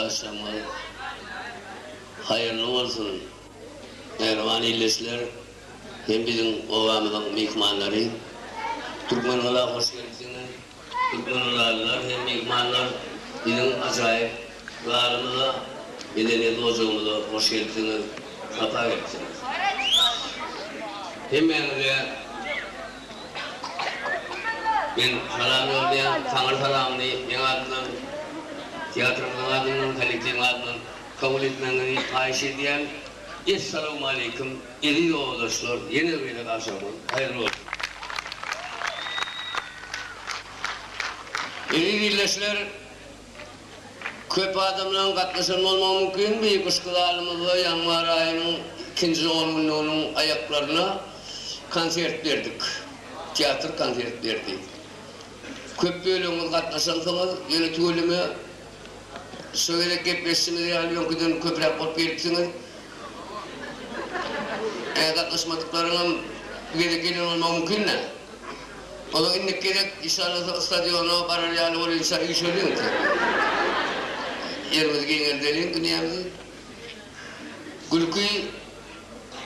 Agşamyňyz haýyrly bolsun mähriban ildeşler hem biziň obamyzyň myhmanlary. Türkmengala hoş gelipsiňiz. Türkmengalalylar hem myhmanlar biziň ajaýyp zalymyza, medeniýet ojagymyza hoş gelipsiňiz, sapa gelipsiňiz. Hemmäňize. Men salam ýolýan, taňry salamyny meň adymdan, teatrymyzyň adyndan, kollektiwiň adyndan kabul etmegiňizi haýyş edýän. Essalawmaleýkim, eziz owazaşlar, ýene bir gezek agşamyňyz haýyrly bolsun! Eziz ildeşler! Köp adamlaryň gatnaşan bolmagy mümkin bu ypyşky zalymyzda ýanwar aýynyň ikinji ongünlüginiň aýaklaryna konsert berdik. Teatr konsert berdi. Köp bölegimiz gatnaşansyňyz, ýöne tüweleme şo gezek gepleşişimiz ýaly öňküden köpräk bolup gelipsiňiz. Gatnaşmadyklaryňam bu gezek gelen bolmagy mümkin-dä. Olar indiki gezek iş alynsa stadiona barar ýaly bolýunça üýşeliň sen. Ýerimizi giňeldeliň dünýämizi. Gülki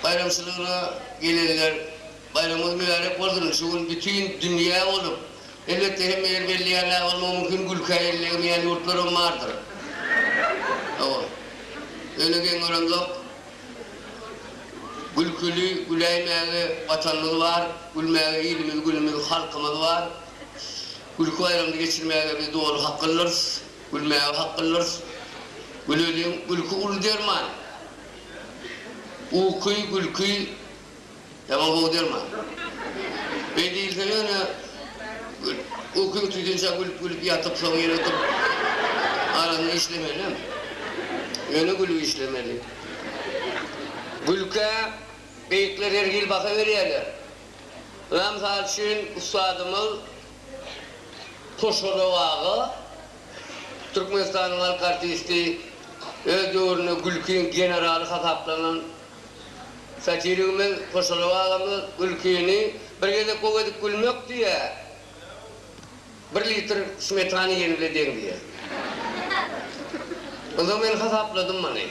baýramçylygyna gelenler baýramyňyz mübärek bolsun şu gün bütin dünýä bolup elbetde hemme ýer belli ýaly aý bolmagy mümkin gülkä ellegemeýän ýurtlaram bardyr. Hawa. Öne geň görenzok. Gülküli güläýmäge Watanymyz bar, Gülmäge ilimiz, günümiz, halkymyz bar. Gülki baýramyny geçirmäge biz doly haklydyrys, Gülmäge haklydyrys. Güleliň, gülki uly derman. Uky, gülki. Ýaman gowy derman. Beý diýilsene ýöne uky tutýança gülüp-gülüp ýatyp soň ýene oturyp araňy işlemelem. Ýöne gülüp işlemeli. Gülkä beýikler her hili baha berýärler. Ynha mysal üçin ussadymyz Hoşorow aga Türkmenistanyň halk artisti öz döwründe gülkiň generaly hasaplanan Satirigimiz Hoşalyp agamyz Gülkini bir gezek gowy edip gülmek diýýä, bir litr smetana iýeni bile deň diýýä. Onda men hasapladym muny.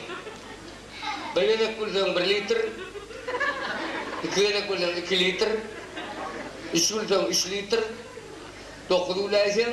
Bir gezek gülseň bir litr, iki gezek gülseň iki litr, üç gülseň üç litr, dokuz güläýseň,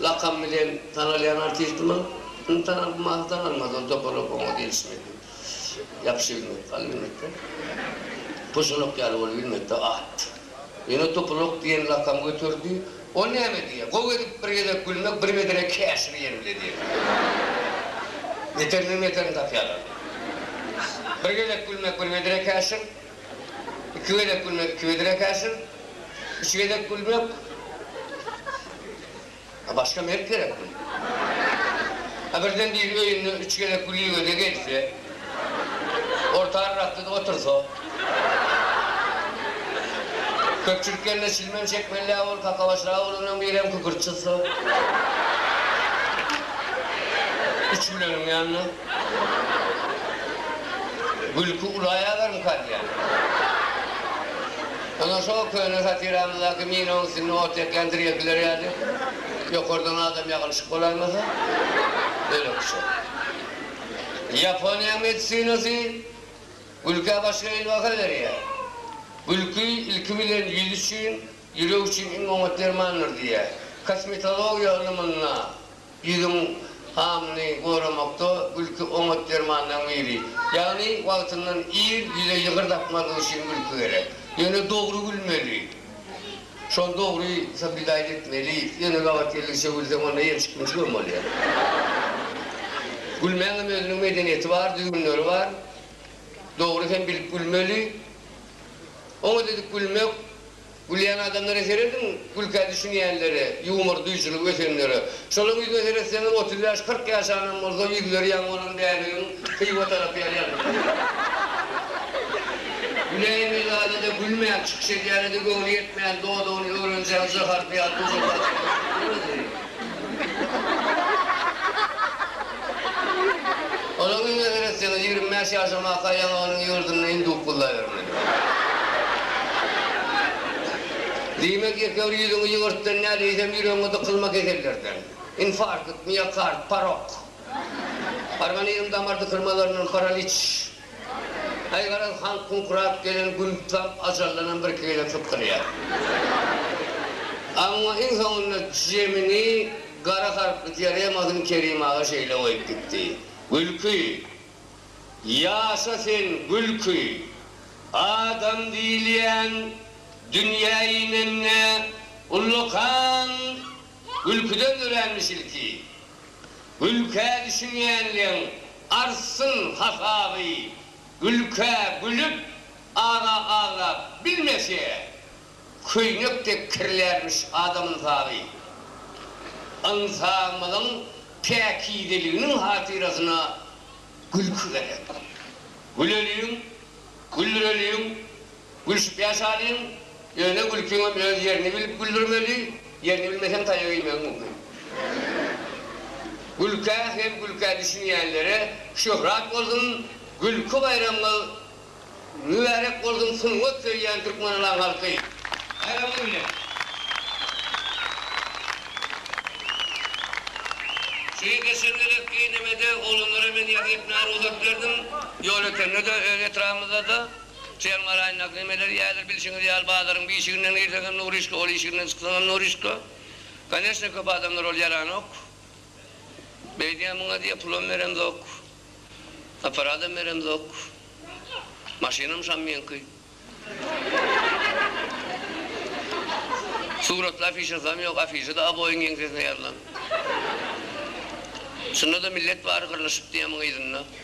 Lakam bilen tanalýan artistimiz indi tanalmasa tanalmaz, ol topalak oňa gelişmedi. Ýapyşy bilmedi, galy bilmedi-de. Pyşylak ýaly bolup bilmedi-de, at. Ýöne topalak diýen lakam göterdi. Ol näme diýýär? Gowy edip bir gezek gülmek, bir medene käşir iýen bile diýýär. Beterinden beterini tapýarlar. Bir gezek gülmek, bir medene käşir. Iki gezek gülmek iki bedre käşir, üç gezek gülmek A başga mert gerekmi? A birden biri öýünde üç gezek gülüge-de gelse, orta arrakda-da otursa? Köpçülik ýerinde çilmem çekmeli-ä ol, kakabaş Ragulynyň birem kükürt çyzsa? Üç güleniň ýanyna. Gülki ulaýalarmyka diýýän. Ondan şo köne satiramyzdaky minaň üstünde ot ýakýan tirýekiler ýaly, ýokardan adam ýagylyşyp bolaýmasa, bölekçe. Ýaponiýanyň medisinasy gülkä başga hili baha berýär. Gülki, ilki bilen, ýüz üçin, ýürek üçin iň oňat dermandyr diýýär. Kosmetologiýa ylymynda Ýüzüň hamyny goramakda gülki oňat dermanlaryň biri. Ýagny wagtyndan ir ýüze ýygyr dakmazlyk üçin gülki gerek. Ýöne dogry gülmeli. Şol dogry sobidaýly etmeli. Ýöne gabat geldigiçe gülseň onda ýençik-münçik hem bolýar. Gülmäň hem özüniň medeniýeti bar, düzgünleri bar. Dogry hem bilip gülmeli. Oňat edip gülmek Gülýän adamlara serediň, gülkä düşünýänlere, ýumor duýujylygy ötenlere. Şolaň ýüzüne seretseňiz, otuz bäş, kyrk ýaşanam bolsa, ýüzleri ýaňy bolan bäbegiň Hywa tarap ýaly ýazylyp dur. Güläýme zada-da gülmäň, çykyş edýäne-de göwni ýetmeýän, dodagyny öwrenjäň, jaharpy ýaly dujaklap çykyp oturyp durma, diýseň. Onuň ýüzüne seretseňiz, ýigrimi bäş ýaşamaka ýaňy onuň ýurdunda hinduk gullabermeli. Diýmek, ýekeür ýüzüňi ýygyrtdan däl, eýsem ýüregiňe dykylma kesellerden. Infarkt, miokard, parok. Organizm damar dykylmalaryndan, paraliç. Aý garaz han kuňkurap gelen gün tutam ajallanam birki gezek sypdyrýar. Amma iň soňunda jemini gara harply dioremasyny Kerim aga şeýle goýup gitdi, Gülki! Ýaşa sen, Gülki! Adam diýilýän dünýä inende ullakan gülküden döränmiş ilki. Gülkä düşünýänleň artsyn hasaby Gülkä gülüp aza aglap bilmese Köýnek dek kirlärmiş adam ynsaby Ynsabymyzyň päkizeliginiň hatyrasyna Gülki gerek Güleliň gülreliň Gülşüp ýaşalyň, ýöne gülkiňem öz ýerini bilip güldürmeli, ýerini bilmeseň taýak iýmegiň mümkin. Gülkä hem gülkä düşünýänlere şöhrat bolsun, gülki baýramyňyz mübärek bolsun sungat söýýän Türkmenalan halky! Baýramyňyz bilen! Şeýe geçendeler Geýnemede oglanlara men ýazy etmäge rugsat berdim, ýol ötende-de, öz etrabymyzda-da. Çem garaýyn naklemeleri ýaýylar bilşiňiz ýaly bazaryň bişiginden girseň hem nuryşka ol işiginden çyksaň hem nuryşka Koneşne köp adamlar ol ýaranok beýdýän muňa diýýä pulam beremzok aparadam beremzok maşynam şam meňki suratly afişasam ýok afişada aboýyň ýeňsesine ýazylan şunda da millet bary gyrlyşyp diýýä muňa yzynda.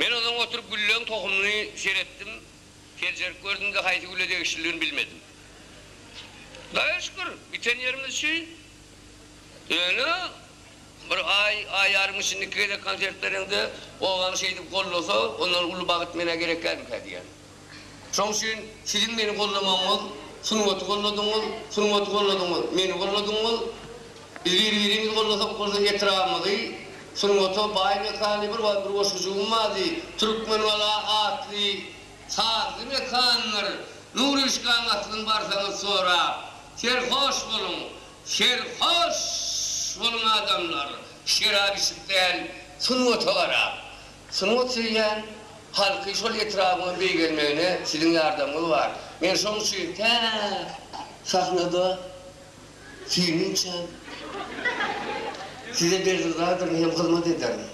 Men onsoň oturyp gülleň tohumyny seretdim, seljerip gördüm-de haýsy güle degişlidigini bilmedim. Daýa şükür, biten ýerimiz şu. Ýöne bir aý, aý ýarym içinde iki gezek konsert bereňde, obaň şeýdip gollasa, ondan uly bagyt menä gerek dälmikä diýýän. Şoň üçin siziň meni gollamagyňyz, sungaty golladyňyz, sungaty golladyňyz, meni golladyňyz. Biz bir-birimizi gollasak bolsa etrabymyzy sungata baý mekany bir bar bir goşgujygym bardy, Türkmengala atly sazly mekandyr. Nuryşkaň aslyn barsaňyz sorap. Serhoş boluň! Serhoş boluň adamlar! Şerap içip däl, sungata garap. Sungat söýýän halky şol etrabyňa beýgelmegine siziň ýardamyňyz bar. Men şoň üçin tä sahnada süýnünçäm size bergizadyryn hem hyzmat ederin.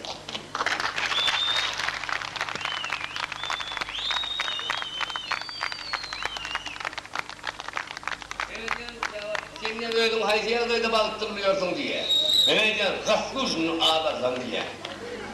Sen diýýän özüň haýsy ýagdaýda bagtly bolýarsyň diýýän. Men aýdýan, Zaslujnyny az alsam diýýän.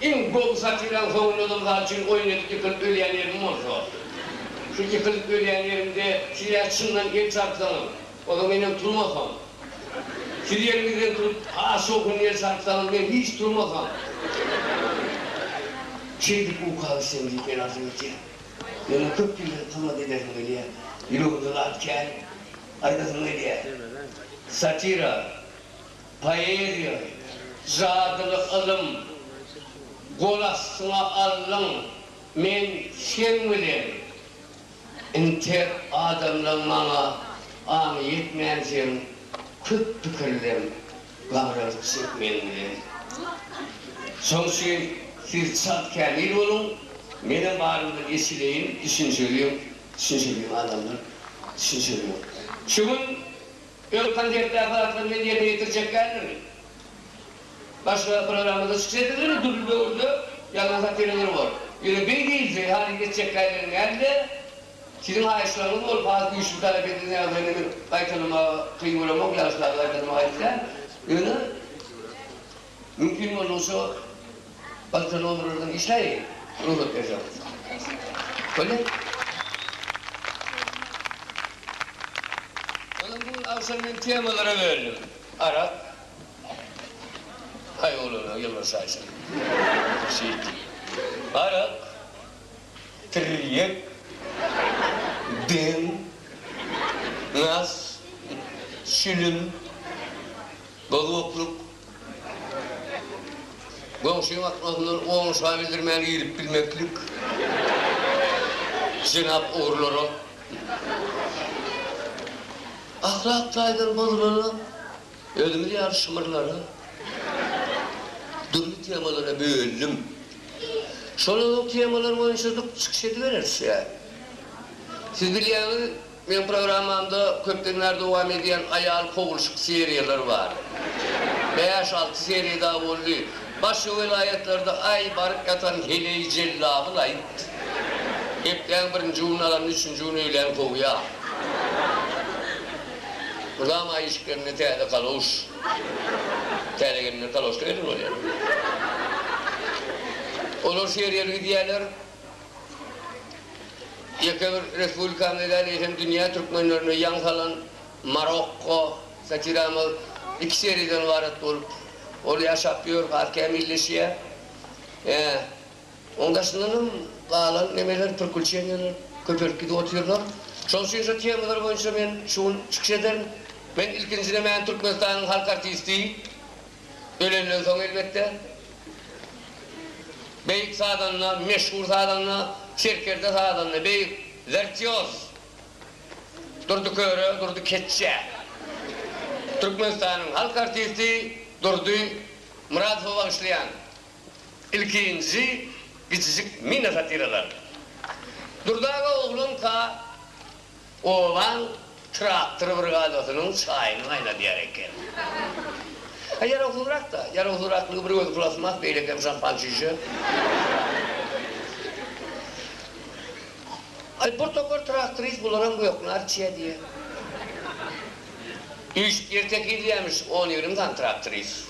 Iň gowy satyran howludym sal üçin oýun edip ýykylp ölýän ýerim bolsa. Şu ýykylyp ölýän ýerimde siz ýa çyndan el çarpsaňyz, ozal menem turmasam. Siz ýeriňizden turup has şowhunly el çarpsaňyz men hiç turmasam. Şeýdip uka gitsem diýip men arzuw etýän. Meniň köp ýyldan tomat edesim gelýä. Ýüregimde zat kän aýdasyň gelýä. Satira. Poeziýa, jadyly ylym, gol astyňa alnyň, men seň bilen. Intek adamlaň maňa aňy ýetmänsiň, köp pikirleň, gabralyk çek men bilen. Şoň üçin siz çalt kämil boluň, menem barymdan eşideýin, düşünşeliň, düşünşeliň adamlar, düşünşeliň. Şu gün. Öz konsertdäki zatlaryny men ýerine ýetirjek däldirmi? Başga programmada çykyş etseňizem dürli döwürde ýazan satiralar bor. Ýöne beý diýilse, halyny geçjekkälerini däl-de, siziň haýyşlaryňyz bolup has güýçli talap edilýän ýagdaýynda men gaýtalamaga kyn göremok, ýagyşlarda gaýtalamaga aýyp däl. Ýöne Mümkin boldugyça galta nomerlerden işleýin, rugsat berseň. Bolýa? Ondan bu gün agşam men temalara bölündim. Arak, Haý oglana ýylgyryş şaýsyn. Şeýt. Arak, tirýek, deň, nas, şilim, gowaklyk. Goňşyň atmazyndan oňşa bildirmän girip bilmeklik jenap ogrulara ahlak taýdan bozulara özümiz ýaly şymyrlara dürli temalara böldim. Şolaryň temalary boýunça çykyş edibereris ýa siz bilýäňiz Meň programmamda köpdenbäri dowam edýän aýal kowulşyk seriýalar bar. Bäş-alty seriýa dagy boldy. Başga welaýatlarda aý baryp ýatan heleý jellabyl aýt. Hepdäň birinji gününi alanda üçünji gün öýlän kowýa. Mydama aý işiklerinde täze kaloş. Täze gelinler kaloşda gezen bolýar. Olar seriýaly gidýärler. Ýeke bir respublikamyza däl, eýsem dünýä türkmenlerine ýaň salan Marokko satiramyz iki seriýadan ybarat bolup, ol ýaşap ýör, has kämilleşýär. Ýa, oň daşyndan hem galan nemeler, prikuçeniýalar köpelip gidip otyrlar. Şoň üçin şo temalar boýunça men şu gün çykyş ederin. Men ilkinji nemäni Türkmenistanyň halk artisti, Ölenden soň elbetde, beýik sazanda, meşhur sazanda, serkerde sazanda, beýik wertýoz Durdy Köre, Durdy Keçje, Türkmenistanyň halk artisti Durdy Myradowa bagyşlaýan ilkinji kiçijik mini-satiralar. Durdy aga oglanka Oglan traktor brigadasynyň çaýyny gaýnadýar eken. A ýarawsyzrak-da. Ýarawsyzraklygy bir gözi plasmas, beýlekem şampan çişe. Aý, bir topar traktorist bularam göknar çiýe diýýä. Üýşüp ýer tekizleýämiş on-ýigrimi sany traktorist.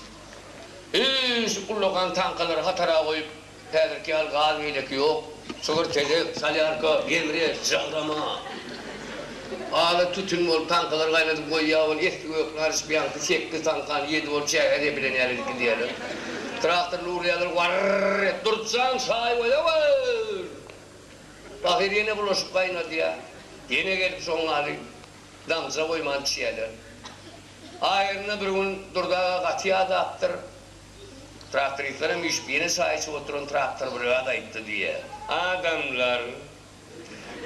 Üýşüp ullakan tankalary hatara goýup, Häzirki ýaly gaz beýleki ýok. Çygyr tezek, solýarka, gemri, žagrama. Ala tütün bolup, taňkalary gaýnadyp goýýar ol. Esli-gök naryş biaňky sekiz taňkany ýedi bolup çäge zepilen ýaly edip gidýärler. Traktorly urýarlar, warr-r-r et, Durtjan, çaý goýawr! Bahyr ýene bulaşyk gaýnadýar. Ýene gelip şoň ýaly damja goýman içýärler. Aýryna bir gün Durdy aga gaty ýadapdyr. Traktorisler hem üýşüp, ýene çaý içip oturan traktor brigada aýtdy diýýär. Adamlar,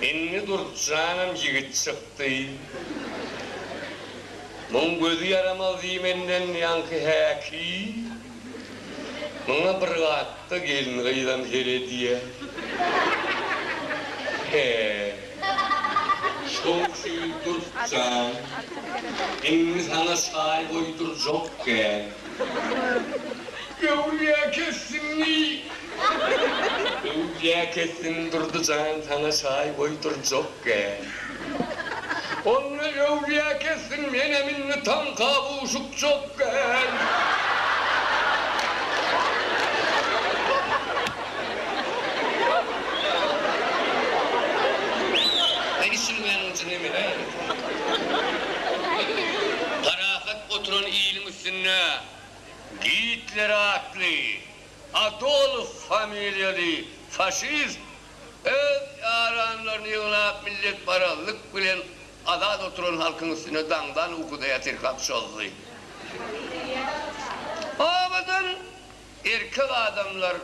Indi Durtjanam ýigit çykdy. Muň gözi ýaramaz diýmenden ýaňky häki, muňa bir gatda gelin-gyzam her edýär. He, şowşy Durtjan, indi saňa çaý goýdurjak kän. Öwürýä kessin ni. Öwürýä kessin Durdy jan saňa çaý goýdurjak gel. Onda öwürýä kessin menem indi taňka buşukjak gel. Indi şuny meniň üçin emele aýryt. Parahat oturan iliň üstünde Gitler atly Adolf familiýaly faşist öz ýaranlaryny ýygnap milletparazlyk bilen azat oturan halkyň üstüne daňdan ukudaýar tirkap çozdy. Obadan erkek adamlar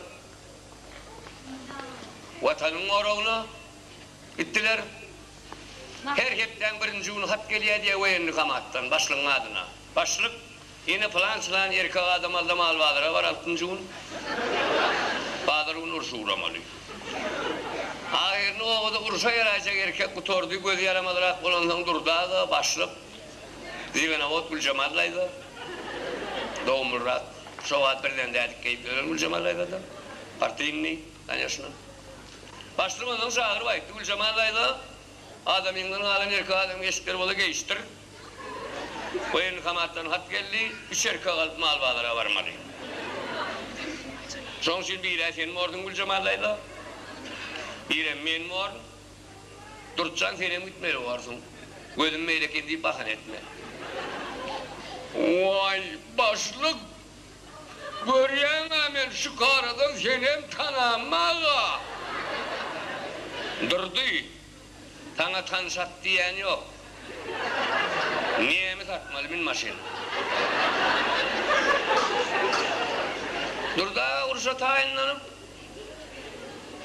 Watanyň goragyna gitdiler. Her hepdäň birinji güni hat gelýär diýýär woýenni komatdan, başlygyň adyna. Başlyk, Ine pylan-çylan erkek adam alda mal bazara bar altynjy gün. Bazar gün urşa ugramaly. Ahyryny obada urşa ýaraýjak erkek gutardy, gözi ýaramazrak bolansoň Durdy aga, başlyk, Ziganawod Güljemal daýza, dogumlyrak, şo wagt birden dädikk geýip ölen Güljemal daýzada, partyýnnyý, kanýeşna. Başlyk onsoň çagyryp aýtdy, Güljemal daýza, adamyňdan galan erkek adam eşikleri bolsa geýişdir. Woýenkomatdan hat geldi, üç erkek alyp mal bazara barmaly. Şoň üçin bir-ä sen bordyň Güljemal daýza, birem men born. Durtjan senem gitmeli borsuň. Gözüm beýle eken diýip bahana etme. Waý, başlyk, görýäň-ä men şükaradan senem tanammaga. Durdy. Saňa tan sat diýen ýok. Nemi satmaly min maşyn. Durdy aga urşa taýynlanyp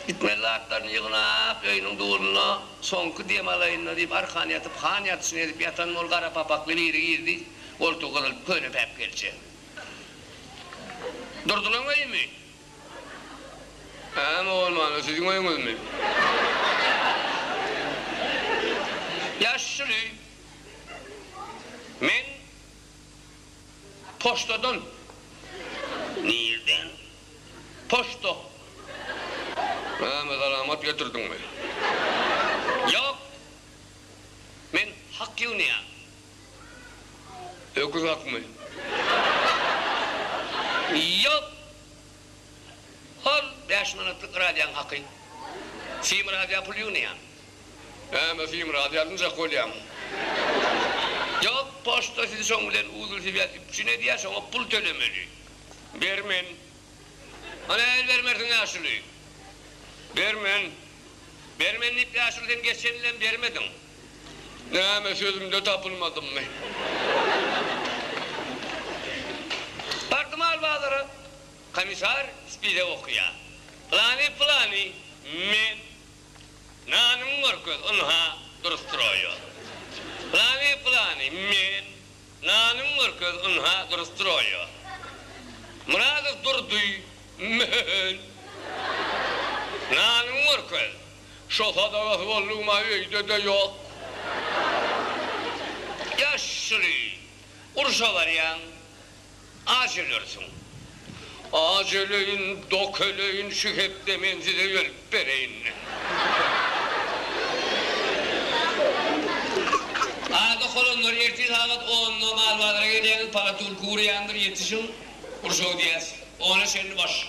gitmeli zatlaryny ýygnap öýüniň dulunda soňky dem alaýynda diýip arkan ýatyp han ýatyşyny edip ýatan bol gara papakly biri girdi goltugy gyzyl köne päpgelçe. Durdylaň öýümi? Äme bolmanda siziň öýüňizmi? Ýaşyl öý. Men poçtadan. Nirden? Poçta. Äme salamat getirdiňmi? Ýok. Men hak ýygnaýan. Öküz akmy? Ýok! Al, bäş manatlyk radýaň haky. Sim radýa pul ýygnaýan. Hä-m, sim radýa alynjak bolýaň. Ýok, poçta sizi şoň bilen uzlsibýär, üpjün edýär, şoňa pul tölemeli. Bermen. A nähili bermersiň ýaşuly? Bermen. Bermen diýip, ýaşuly, sen geçen ýylem bermediň. Näme, sözümde tapylmadymmy? Bardym al bazara. Komissar spide okaýar. Pylany, pylany, men. Nanyňy görkez, ynha, dur stroýer. Pylany, pylany, men. Nanyňy görkez, ynha, dur stroýer. Myradow Durdy, men. Nanyňy görkez. Şo sadagasy boldugyma öýde-de ýok. Ýaşuly, urşa barýaň, aç ölersiň. Aç öleýin, dok öleýin, şu hepde men size ölüp bereýin. Ada holanlar, ertir sagat onda mal bazara gelýäňiz, palatulka gurýandyr, ýetişiň, urşa gidýäs. Ona çenli baş.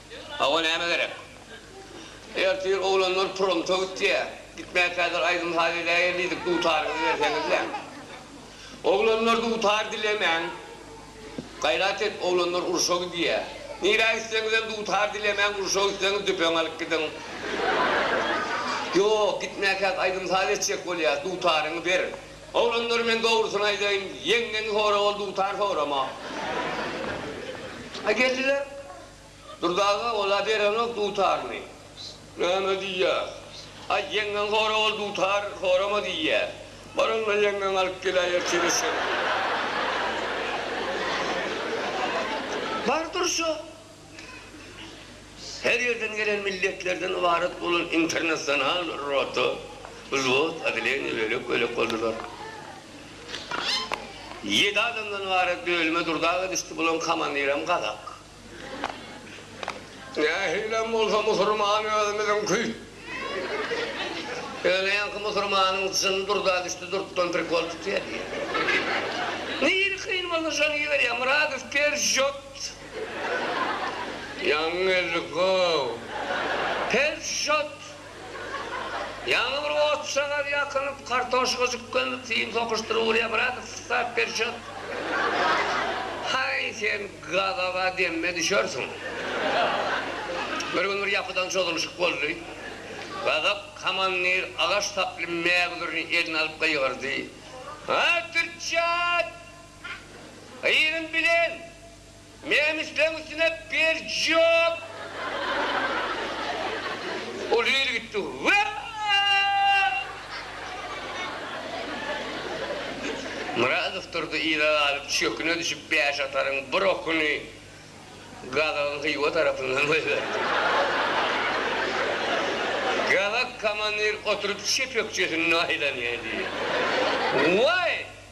Hawa näme gerek. Ertir oglanlar promta gitýä. Gitmä kädir aýdym saz edäýeli diýdik dutaryňyzy berseňizle. Oglanlar dutar dilemäň. Gaýrat et oglanlar urşa gidýä. Nirä gitseňizem dutar dilemäň urşa gitseňiz düpeň alyp gidiň. Ýok gitmäkäk aýdym saz etjek bolýas dutaryňy ber. Oglanlar men dogrusyny aýdaýyn ýeňňeňi sora ol dutar sorama. A geldiler. Durdy aga ol-a berenok dutaryny. Näme diýýä? Aý, ýeňňeň sora ol dutar sorama diýýä. Bar onda ýeňňeň alyp geläýer çeleşem. Bar durşa. Her ýerden gelen milletlerden ybarat bolan internasional rota, wzwod, oddeleniýe bölek-bölek boldular. Ýedi adamdan ybarat bölüme durdaga düşdi, bularyň komandirem gazak. Nähilem bolsa musurman özümiziňki. Ýöne ýaňky musurmanyň jyny durda düşdi, durtdan prikol tutýar diýýär. Nirä kyn bolsa şony iberýär, Myradow persjot. Ýaňy geldik-ow. Persjot! Ýaňy bir otçagaz ýakylyp, kartoşka jykgynly tiým sokuşdyryp urýar, brat, wstap ber çot! Haý, sen gazaba demme düşersiň! Bir gün bir ýapydan çozulyşyk boldy. Gazap komandir agaç saply mägüzürini eline alyp gygyrdy, Aý, türkçe aýt! Gyzyň bilen Nemisleň üstüne berjok. Ol yz gitdi. Myradow durdy yza galyp çöküne düşüp bäş ataryň bir okuny Gazagyň Hywa tarapyndan goýberdi. Gazak komandir oturyp çep ökjesinde aýlanýa diýdi. Waý!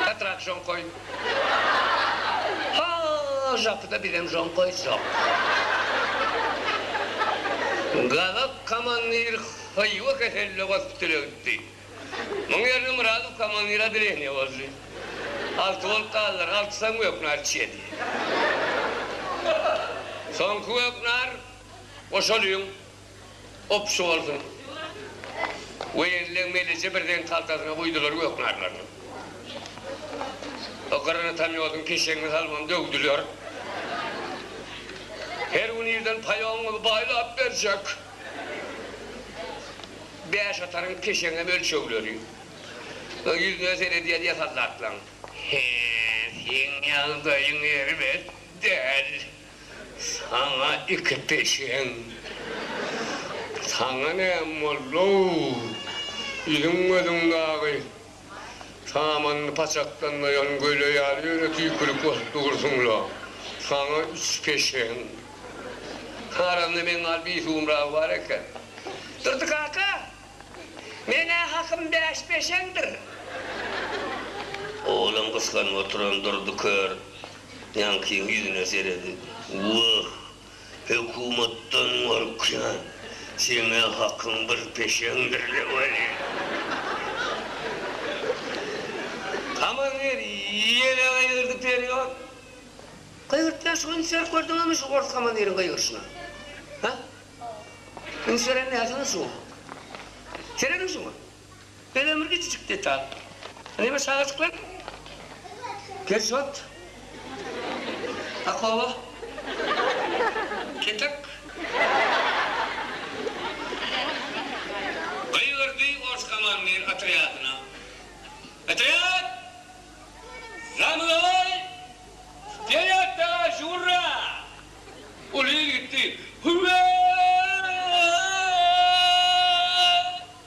Ýatrak žonkoý. Ha, žapyda bizem žonkoý žap. Gazak komandir Hywa keselli gospitale gitdi. Muň ýerine Myradow komandir odeleniýa boldy. Alty bolup galdylar. Altysam göknar içýedi. Soňky göknar goşalyň. Obşy bolsun. Weýenleň meleje birden kaltasyna guýdular gök narlaryny. O gyryny tamýodyň keşegine salyp ony döwdüler. Her gün irden paýogyňyzy baýlap berjek. Bäş ataryň keşeginem ölçegleri. Soň ýüzüne seredýär ýasal zatlaň. He, seň ýagdaýyň erbet däl. Saňa iki peşeň. Saňa näme boldy-ow? Iliň gözüň dagy samanyny paçaklanmaýan göle ýaly ýöne tüýkürip bolup dursuň-la. Saňa üç peşeň. Aramda meň gal bir suwumragy bar eken. Durdy kaka, men-ä hakym bäş peşeňdir. Olam gysganyp oturan Durdy kör Ýaňkyň ýüzüne seredi. Wah, hökümetden gorkýan. Seň-ä hakyň bir peşeňdir-le welin. Aman ger ýene gygyrdy perýat. Gygyrtýan şu ünseri gördüňizmi şu ors kamandiriň gygyryşyna? Hä? Ünseri nähili şu? Serediň şuňa. Ene bir kiçijik detal. Neme çagajyklar? Gerjot. Akbaba. Ketek. Gygyrdy ors komandir otrýadyna. Otrýad! Za mnoy! Stoýat daga žurra! Uly il gitdi. Hüwwee!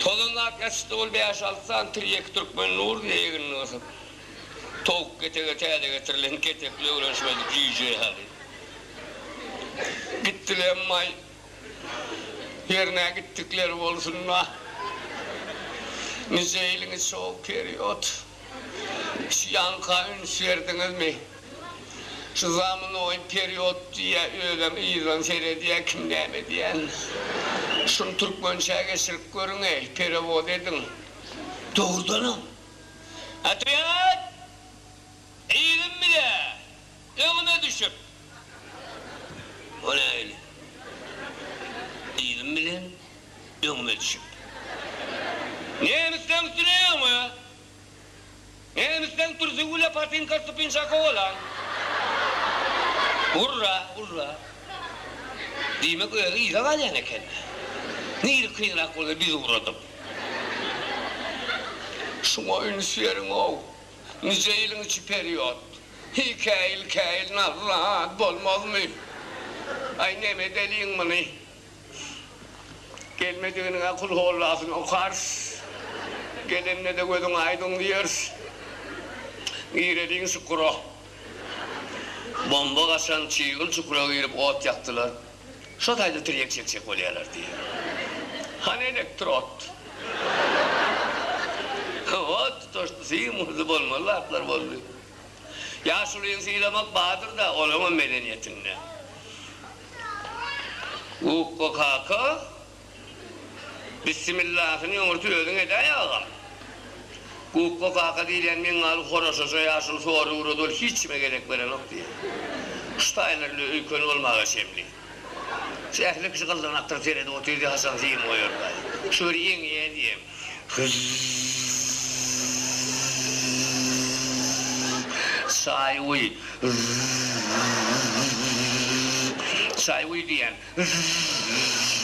Tozanlap ýatyşdy ol bäş-alty sany tirýek türkmen nuruna egnini gysyp. Towuk ketege täze getirilen ketekli öwren şöyle jüýje ýaly. Gitdiler emma-aý, ýerine gitdikleri bolsun-da. Nice ýylyňyz şol period. Şu ýanka üns berdiňizmi? Şu zamunoý period diýýä özem yzdan seredýä kim näme diýän. Şuny türkmençä geçirip görüňeý, perewod ediň. Dogrudanam. Otwet! Yzym bile! Öňüme düşüp. Bu nähili? diýdim bilen öňüme düşüp. Nemisleň üstüne öňe. Nemisleň türsi güle patinka stupinşaka bolan. Urra, urra. Diýmek özi yza galýan eken. Nirä kynrak bolsa bizi ugradyp. Şuňa üns beriň-ow. Nije ýylyň içi period. Hiý käýil käýil nazly zat bolmazmy. Aý neme edeliň muny. Gelmediginiňä kulhollasyny okarys. Gelende-de gözüň aýdyň diýeris. Gireliň çukura. Bomba gaçan çygyl çukura girip ot ýakdylar. Şo taýda tirýek çekjek bolýarlar diýýär. Hany elektrod? Hawa, tutaşdysy, muhdy bolmaly zatlar boldy. Ýaşulyny sylamak bardyr-da, olaňam medeniýetinde. Gukko kaka. Bissimillasyny öňürti özüň edäý agam. Gukga kaka diýilýän meňňaly horaşaja ýaşuly sory ugrady ol hiç kime gezek berenok diýýär. Şu taýlar bile öýkeni bolmaga çemli. Şu ähli kişi gyldyrnakdyr seredip otyr diýip haçan sim goýarlaý. Şu bir ýeňýä diýem. Hyzz. Çaý guý. Hyzz. Çaý guý diýýän. Zzzzzzzzzzzzz.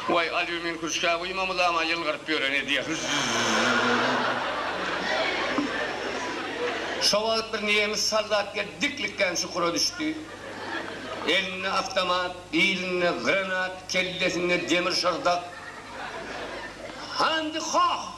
Waý, alýumin kürçkä guýmamyzam-a ýylgyryp ýören edýä. Zzzzzzzzzzz. Şo wagt bir nemes soldat gelip diklikgän çukura düşdi. Elinde awtomat, bilinde granat, kellesinde demir şyrdak. Handy hoh!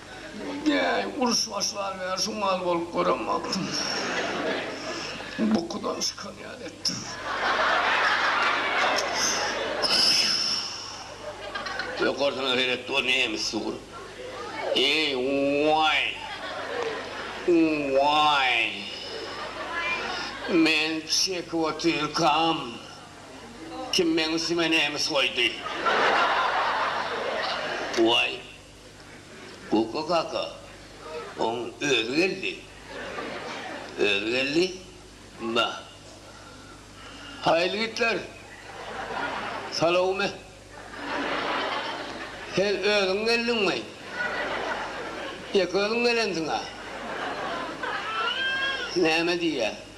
Näý, uruş başlanmaýar, şu mal bolup görem wagtym bukudan çykan ýaly etdi. Öý gorsuňa seret, bu nemes sugur. Eý, waý! Waý! Men çekip otyrkam, kim meň üstüme nemes goýdy? Waý! Gugga kaka oň özi geldi. Özi geldi. Ba. Haýyl gitler. Salowmy. Sen özüň geldiňmi? Ýek özüň gelensiň-a. Näme diýýä.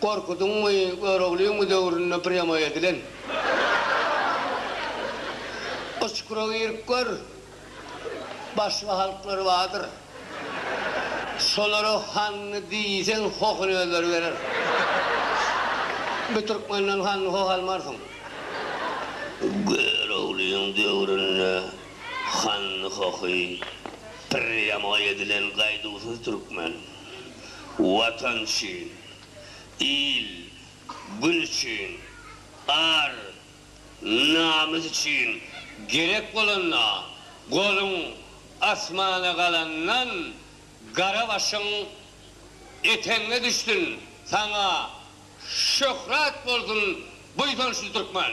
Gorkudyň we Göroglyň döwründe prýamoý edilen. Uçkura girip gör, başga halklar bardyr. Şolara hanly diýseň, hohuny özleri berer. Bir türkmenden hanly hoh almarsyň. Göroglyň döwründe hanly hohy prýamoý edilen gaýduwsyz türkmen. Watan üçin, il, gün üçin, ar, namys üçin gerek bolanda, goluň asmana galandan, gara başyň eteňe düşsün, saňa şöhrat bolsun buýsançly türkmen!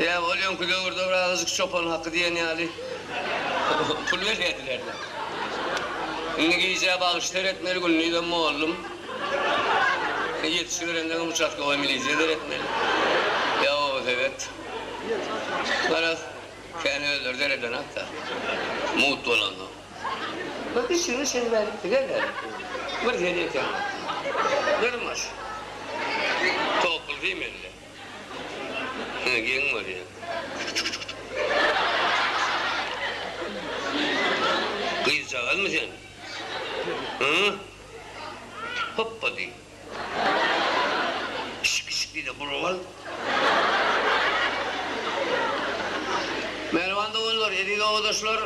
Ýa ol öňki döwürde bir azajyk çopan haky diýen ýaly pul berýärdiler-dä. Indi gijä bagyş seretmeli, gündizem mollum. Ýetişiberendeňem uçastkowaý milisiýa seretmeli. Ýa obasowet. Garaz, kän özleri seredenak-da, mugt bolansoň. Bir dişini şeňňärdipdi, gel häli, bir sen ekeňok. Dyrmaş. Topulsy mende. Ine geň bolýa. Gyzjagazmy sen? Hyýy. Hoppa diý. Şik şik diýde burup al. Mähriban doganlar, eziz obadaşlar,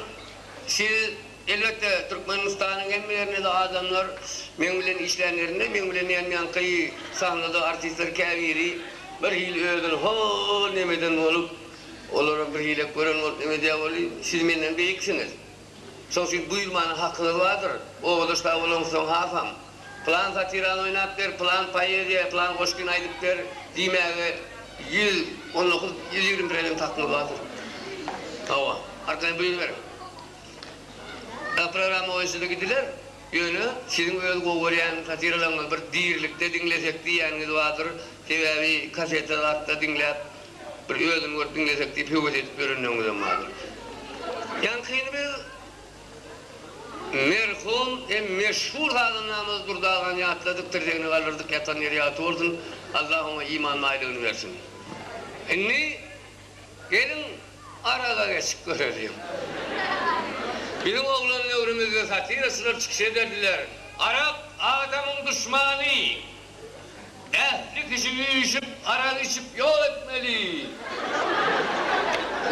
siz Elbetde, Türkmenistanyň hemme ýerinde-de adamlar meň bilen işlänlerinde, meň bilen ýanýanky sahnada artistler käbiri birhili özüni hol neme eden bolup, olaram birhilek gören bolup neme edýär boldy, siz menden beýiksiňiz. Şoň üçin buýurmana hakyňyz bardyr. Obadaş dagy bolaňyzsoň hasam, Pylan satirany oýnap ber, pylan poeziýa, pylan goşgyny aýdyp ber diýmäge ýüz on dokuz, ýüz ýigrimi prosent hakyňyz bardyr. Hawa, arkaýyn buýruberiň. Gaprarama oýunçylyk ediler, ýöne siziň öz gowy görýän satiralaryňyzy bir dirilikde diňlesek diýýäniňiz bardyr, sebäbi kaseta zatda diňläp bir özüni görüp diňlesek diýip höwes edip ýörenleriňizem bardyr. Ýaňkyny biz merhum hem meşhur sazandamyz Durdy agany ýatladyk, tirsegine galdyrdyk, ýatan ýeri ýagty bolsun, Allah oňa iman baýlygyny bersin. Indi. Geliň, araba geçip göreliň. Biziň oglan döwrümizde satiraçylar çykyş ederdiler. Arak, adamyň duşmany. Ähli kişi üýşüp, arak içip ýok etmeli!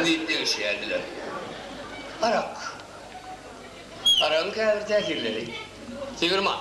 diýip degişýärdiler. Arak. Aragyň käbir täsirleri. Tigirman.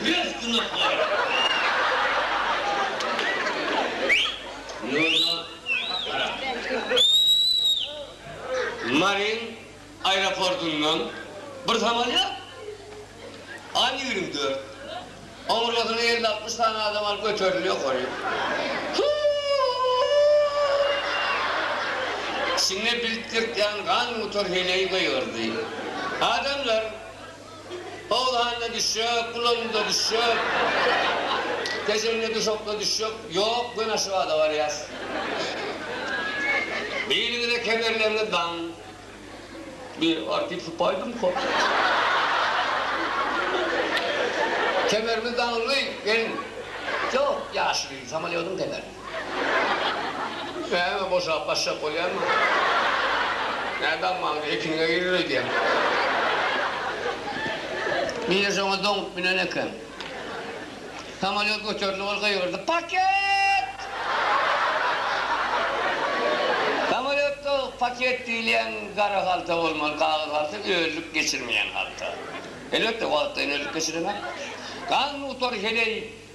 Öz günahlary. Nurda gara. Maryň aeroportyndan bir samolýot, An ýigrimi dört, oňurgasyna elli-altmyş sany adam alyp göterildi ýokary. Hu-u-u! Içinde biltgirtýän gan gutar heleý gygyrdy. Adamlar! Howlanda düşjek, gulanynda düşjek, kejende duşakda düşjek ýok, göni Aşgabada barýas. Birinize kemerlerini daň. Bir artyp sypaýdymka. Kemerimiz daňylgy, gelin. Ýok, ýaşuly, samolýodyň kemer. Näme, boşap gaçjak bolýarmyň? Nädä almaňdy, ekiniňe girer öýdýän. Nine şoňa doňup münen eken. Samolýot göterilip, ol gygyrdy, Paket! Samolýotda paket diýilýän gara halta bolmaly, kagyz halta, öllük geçirmeýän halta. Elbetde, wagtlaýyn öllük geçirenok. Gan nutary heleý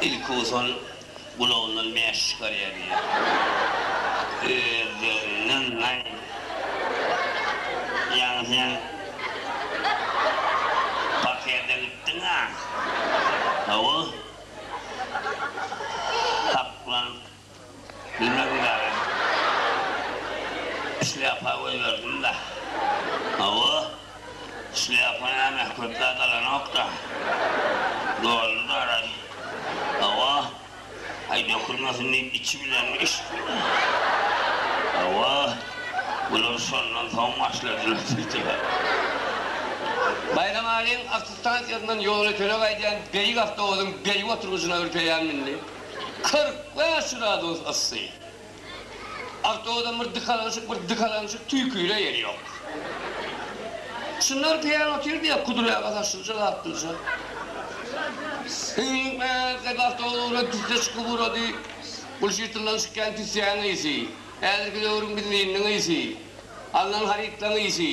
Ilki ozal gulagyndan mäş çykarýar diýýär. Özlerinden naý. Ýaňy sen parterden gitdiň-ä. Hawa. Haklanyp. Bilmez bilaýyn. Şlýapa goýberdim-de. Hawa, şlýapa näme, köp zat alanok-da. Doldy-daraý. Hawa. Aý, dökülmesin diýip içi bilen içdim-de. Hawa, bular şondan soň başladylar diýdiler. Baýramalyň awtostansiýasyndan ýoly töleg aýdýan beýik awtobusyň beýik oturgyjyna ürpeýän mündi. Kyrk bäş gradus yssy. Awtobusam bir dykalaňşyk, bir dykalaňşyk, tüýküre ýeri ýok. Çynar peýan otyrdy ýa Kudur aga saçlyja, laplyja. Hüňňüňk meňňek diýip awtobus ugra tüsse çykyp ugrady. Bul şytyldan çykýan tüssäň ysy, häzirki döwrüň benziniň ysy, alnan harytlaň ysy.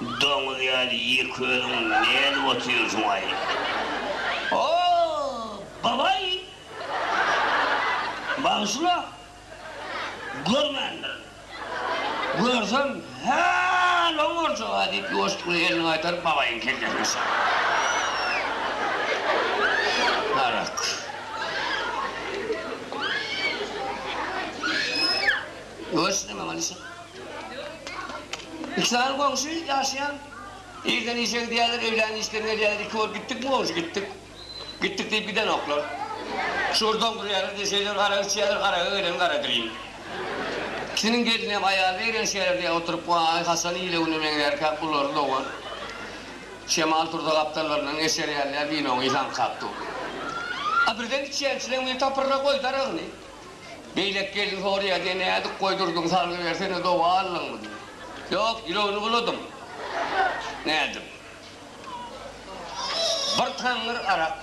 Doňuz ýaly ýek özüň nädip otyrsyňaý? O, babaý! Bagyşla! Görmändirin. Görsem, hä-l oň boljaga diýip, ýuwaşlykly elini gaýtaryp, babaýyň kellesine çakdy. Arak. Görsün, emma, manyşa. Iki sany goňşy ýaşaýan. Irden işe gidýärler, öýlän işden gelýärler, iki bolup gitdikmi goňşy, gitdik. Gitdik diýip gidenoklar. Şugur doňdurýarlar, döşeýler, arak içýärler, araga gelen garadirin. Ikisiniň gelini hem, aýaly eýrän şäherde oturyp, waý, haçan ile güne meňzärkä, ulary dogan. Şemal tursa gapdallaryndan geçer ýaly ýa winoň ysy aňkap dur. A birden içýän çileň biri tapyrra goýdy aragyny. Beýleki gelin soraýar, Sen nädip goýdurdyň, salgybersene, doga aldyňmy? diýip. Ýok, ýüregini buladym. Nädip? Bir taňňyr arak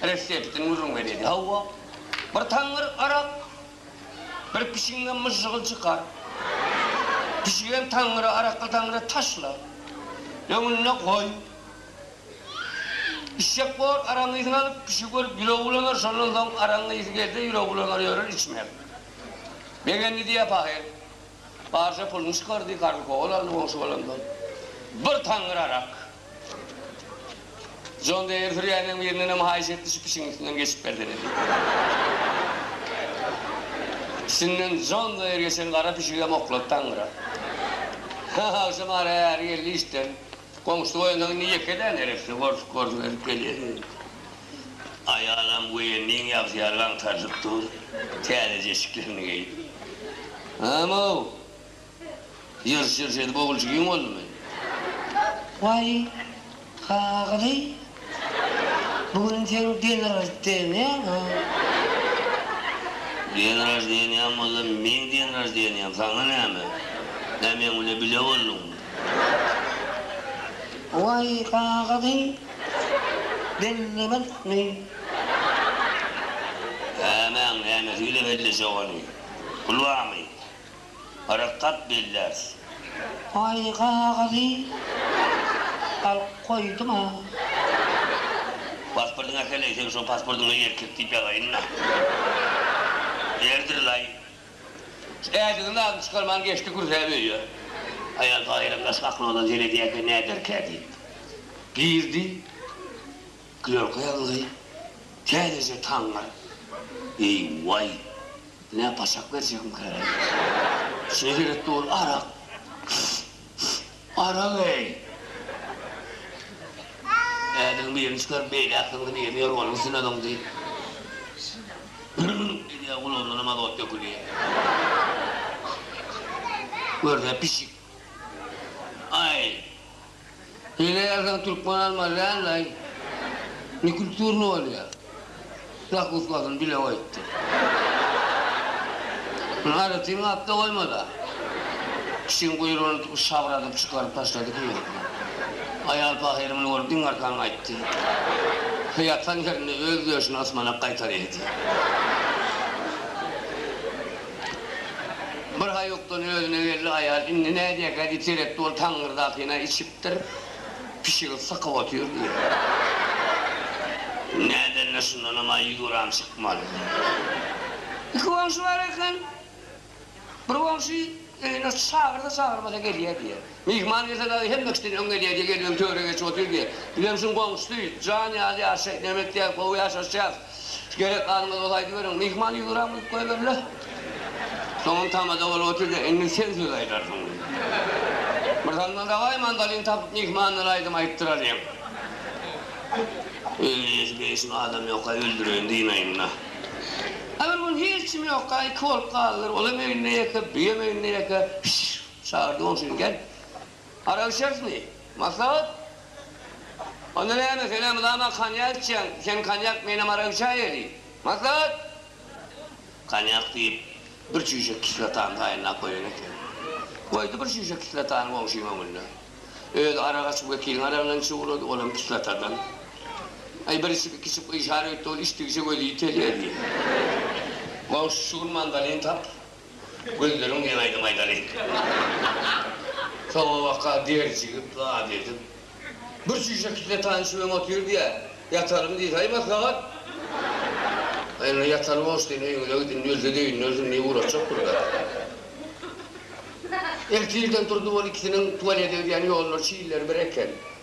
reseptini gürrüň berýärdi. Hawa, bir taňňyr arak bir pişigiňden myžžygyl çykar. Pişigem taňňyra, arakly taňňyra taşla. Öňünde goý. Işşek bor, araň yzyny alyp, kişi görüp ýüregi bulanar, şondan soň araň ysy gelse, ýüregi bulanar, ýörer içmän. Begendi diýýär pahyr. Barja puluny çykardy, karz kowal aldy goňşy balandan. Bir taňňyr arak. Jon Deýer sürýäniň birinenem haýyş etdi, şu pişigiň üstünden geçip bersene diýip. Üstünden Jon Deýer geçen gara pişigem oklady taňňyra. Agşam ara äri geldi işden. Goňşy goýundan indi ýeke däl, heresi gorşup-gorşup ezip gelýär. Aýalam goýunlyň ýagty ýaly gaňtaryşyp dur, täzeje eşiklerini geýip. Hany-ow, ýyrş-ýyrş edip ogulçy giň boldumy? Waý, Hagyly, bu gün seň denraždeniýaň-a? Denraždeniýam bolsa, meň denraždeniýam, saňa näme? Näme, meň bilen bile bolduňmy? Waý kagyzy bellemezmi? Nämäň nämesi bile bellejek ony. Pul barmy? Barak tap belläris. Waý kagyzy alyp goýduň-a. Pasportyňy äkel-leý, seň şo pasportyňa erkek diýip ýazaýyn-da. Erdir-laý. Ädiginiň adyny çykarman geçdi, gürsäp öýe. Aýal Baýram daş gapyny ozal zeredýärkä näderkä diýip, girdi. Klerka ýazyldy. Täzeje taňňar. Eý-waý, ine, paçak berjekmikä? Içine seretdi, ol arak. Gara geý! Ädigiň birini çykaryp, beýläkisiniňkini ýeňýär, onuň üstüne zyňdy. Gürrüň edýär, gulagyndanam azot dökülýär. Görse pişik. Aý, hile ýazsaň türkmen almaly däldi-aý. Nekulturny bolýar. Lak utmasyny bile goýupdyr. Muny Aýratyn gapda goýma-da. Pişigiň guýrugyny tutup şabradyp çykaryp taşlady köýnekden. Aýal pahyr muny görüp iň arkan gaýtdy. He ýatan ýerinde öz döşüni ysmanak gaýtaryady. Birhaýukdan özüne geldi aýal. Indi nädýäkä diýip seretdi, ol taňňyrdakyny-a içipdir. Pişigi sykyp otyrdy. Nädende şundanam aý ýüz gram çykmady. Iki goňşy bar eken. Bir goňşy öýüne çagyrsa çagyrmasa gelýär diýýä. Myhman gelse dagy hemme kişiden öň gelýär diýýä, gelip öň töre geçip otyr diýýä. Bizem şuň goňşusy, jan ýaly ýaşaýyp näme etýäs, gowy ýaşaşýas. Gerek galmaz ol aýdyberiň. Myhman ýüzügräk bolup goýberle. Soňam tamada bolup otur-da, indi sen söz aýdarsyň diýdi. Birsalym dawaý mandolin tapyp myhmandan aýdym aýtdyralyň. Öýde ýeşil-beýşil adam ýok-aý, öldüreýin dynaýyn-da. A bir gün hiç kim ýokka, iki bolup galdylar. Olam öýünde ýeke, buýam öýünde ýeke. Şşş! Çagyrdy goňşyny, gel. Arakçesmi? Maslahat? Onda näme, sen-ä mydama konýak içýäň, sen konýak, menem arak içäýeli. Maslahat? Konýak diýip, bir çüýşe kislotany taýynlap goýan eken. Goýdy bir çüýşe kislotany goňşyň öňünde. Özi arak açyp, wekiliň aragyndan içip ugrady, olam kislotadan. Aý, bir içip, iki içip, gyşar öýtdi, ol içdigiçe gözi ýitelýär diýip. Goňşy, şu gün mandolin tap, Gözleriň diýen aýdym aýdalyň. Sowabaka der jigip zat edip. Bir çüýşe kitle tanyşy bilen otyr diýä. Ýatalymy diýse aý maslahat. Aý indi ýataly boş diýen öýüňize gidin ölse döýünler syn diýip ugraşjak burada. Ertirden turdy bol ikisiniň tualete gidýän ýollary çilleri bir eken.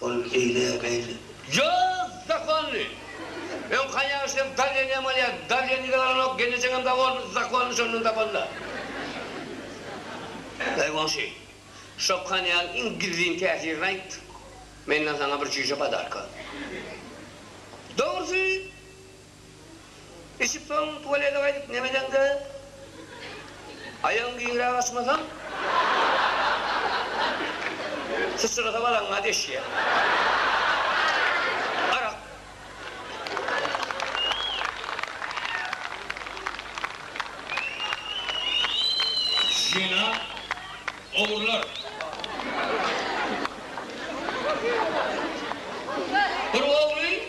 Ol beýle beýle. Ýaz zakonly. Öň konýagy içsem darleniýan bolýar. Darleniýdi galanok, gelnejeňem dagy boldy, zakonly şondan tapanda. Eý goňşy, şo konýagyň iň gizlin täsirini aýt, menden saňa bir çüýşe podarka. Dogrusy, Içip soň tuwalede gaýdyp nemedeňde aýagyň giňräk açmasaň syçrasa balaňa deşýär. Arak. Jena ogurlar. Bir ogly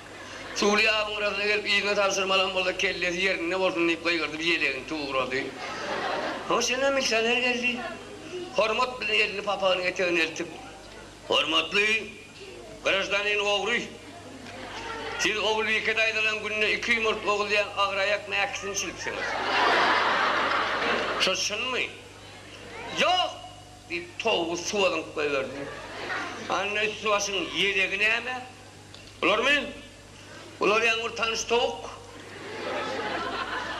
Çuwlyýabyň gyrasynda gelip yzyna tabşyrmalam bolsa kellesi ýerinde bolsun diýip gygyrdy bir ýelegini tugrady. Hoş ine milisioner geldi. Hormat bilen elini papagynyň etegine eltip. Hormatly graždanin ogry. Siz Ogulbike daýzadan günde iki ýumurt oguzýan agyraýak mäkisini çilipsiňiz. Şo çynmy? Ýok! diýip towgy suwa zyňyp goýberdi. Anda üsti başyň ýelegi näme? Bularmy? Bular ýaňy bir tanyş towuk.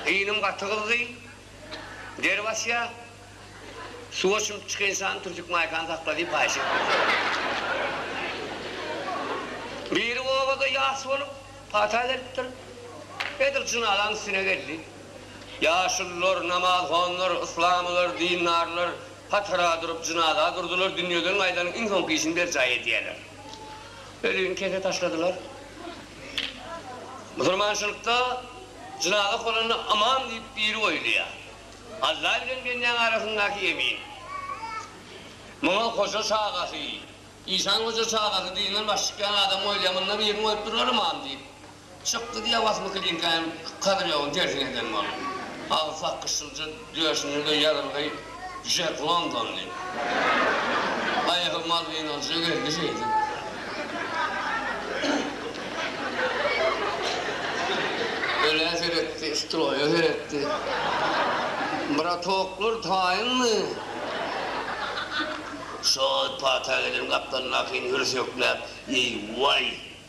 Inim gaty gyzdy. Der basýar. Suwa çümüp çykynsany türtük maýkany sakla diýip haýyş etdim. Biri obada ýas bolup, pata beripdir. Edil jynazanyň üstüne geldi. Ýaşulular, namazhonlar, yslamylar, dindarlar hatara durup, jynaza durdular, dünýeden gaýdanyň iň soňky işini berjaý edýärler. Özüni kese taşladylar. Musulmançylykda jynazak bolanda ymam diýip biri goýulýar. Alla bilen bendeň arasyndaky emin. Muňa hoja çagasy, işan hoja çagasy diýinden baş çykýan adam goýulýar. Munda birini goýupdyrlar ymam diýip. Çykdy diýýär Wasyl Klinkaýam Kadyrýowyň tersine eden bolup. Agy sakgy şylja, döşünde-de ýazylgy Jack Londonly. Aýagy malwinalja geldi şeýdip. Ölä seretdi, stroýa seretdi. Bratoklar, taýynmy? Şol pata gelen gapdalyndakyny hürsükläp, Eý, waý!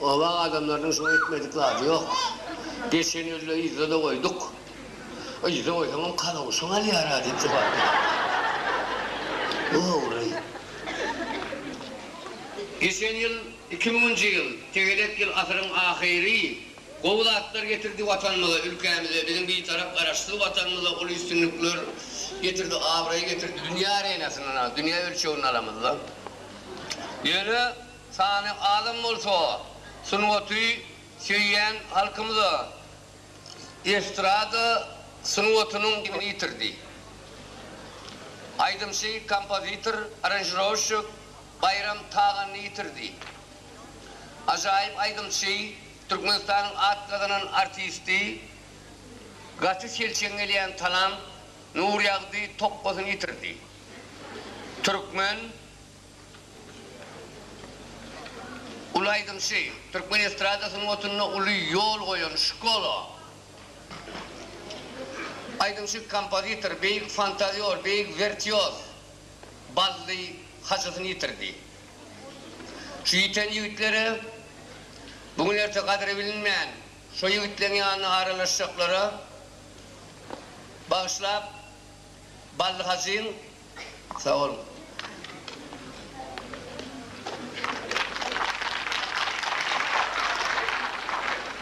Oba adamlarynyň şuňa etmedik zady ýok. Geçen ýylda yzda-da goýduk. Yzda goýsaňam kalawşyň alýar-a diýip jubaldylar. Dogry. Geçen ýyl, iki müňünji ýyl, tegelek ýyl, asyryň ahyry, gowy zatlar getirdi Watanymyza, ülkämize, biziň Bitarap Garaşsyz Watanymyza uly üstünlikler getirdi, abraý getirdi. Dünýä arenasyndan, dünýä ölçeginde alamyzda. Ýöne Sany azam bolsa, sungaty söýýän halkymyza estrada sungatynyň dibini ýitirdi. Aýdymçy, kompozitor, aranžirowşçik Baýram Taganyny ýitirdi. Ajaýyp aýdymçy, Türkmenistanyň at gazanan artisti, gaty selçeň gelýän talant Nurýagdy Tokgasyny ýitirdi. Türkmen. Uly aýdymçy, türkmen estrada sungatynda uly ýol goýan Şkola aýdymçy, kompozitor, beýik fantazýor, beýik wertýoz Bally Hajysyny ýitirdi. Şu ýiten ýigitlere, bu gün-erte gadry bilinmän, şo ýigitleň ýanyna aralaşjaklara bagyşlap, Bally Hajyň sag boluň.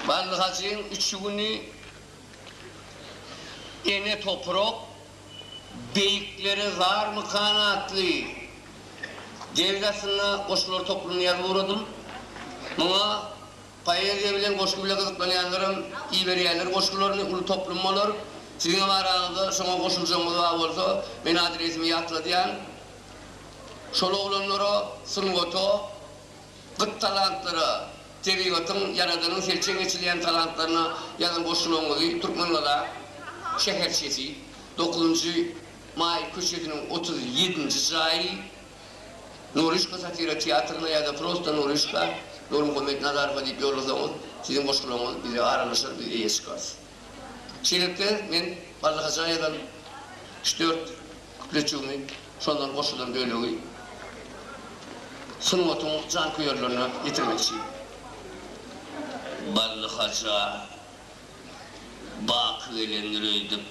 Bally Hajyň üçi güni Ene toprak beýiklere zarmykan atly ders aslynda goşgular toplumyny ýazyp ugradym. Muňa Poeziýa bilen goşgy bile gyzyklanýanlaram iberýärler goşgularyny uly toplum bolar. Siziňem araňyzda şoňa goşuljagyňyz bar bolsa men adresimi ýatladýan. Şol oglanlara, sungata, gyt talantlara, tebigatyň, ýaradanyň selçeň eçilýän talantlaryna ýazan goşgularyňyzy Türkmengala şäherçesi, dokuzynjy maý köçesiniň otuz ýedinji jaýy, Nuryşka satira teatryna ýa-da prosta Nuryşka, Nurmuhammet Nazarowa diýip ýollasaňyz, siziň goşgularyňyz bize aralaşar, biz eýe çykarys. Şeýlelikde, men Barlagaja ýazan üç-dört kupletjigimi, şondan goşulan bölegi sungatyň janköýerlerine ýetirmekçi. Barlagaja baky gelendir öýdüp,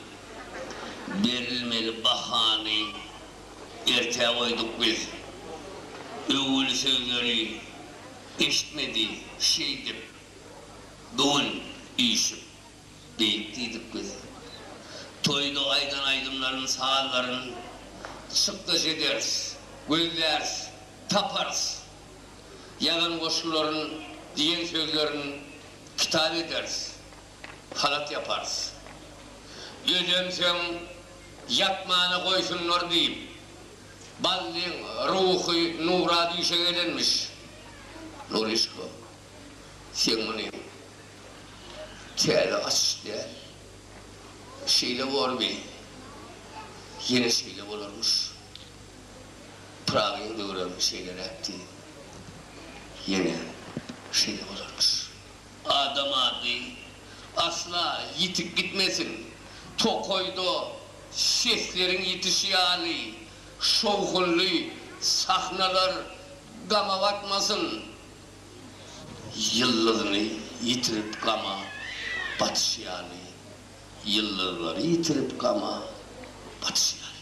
berilmeli bahany Ertä goýduk biz. Öwül sözleri eşitmedi şeýdip bu gün üýşüp beýik diýdik biz. Toýda aýdan aýdymlaryn sazlaryn çykdajy ederis, gözläris, taparys. Ýazan goşgularyn diýen sözlerin kitap ederis. halat ýaparys. Dözemseň, ýapmana goýsunlar diýip, Ballyň ruhy nura düýşe gelenmiş. Nuryşka, seň muny täze açyş däl. Şeýle borby, ýene şeýle bolarmyş. Pyragyň döwrem şeýleräkdi, ýene şeýle bolarmyş. Adam ady asla ýitip gitmesin. Tokaýda sesleriň ýitişi ýaly şowhunly sahnalar gama batmasyn. Ýyldyzyny ýitirip gama batyşy ýaly. Ýyldyzlary ýitirip gama batyşy ýaly.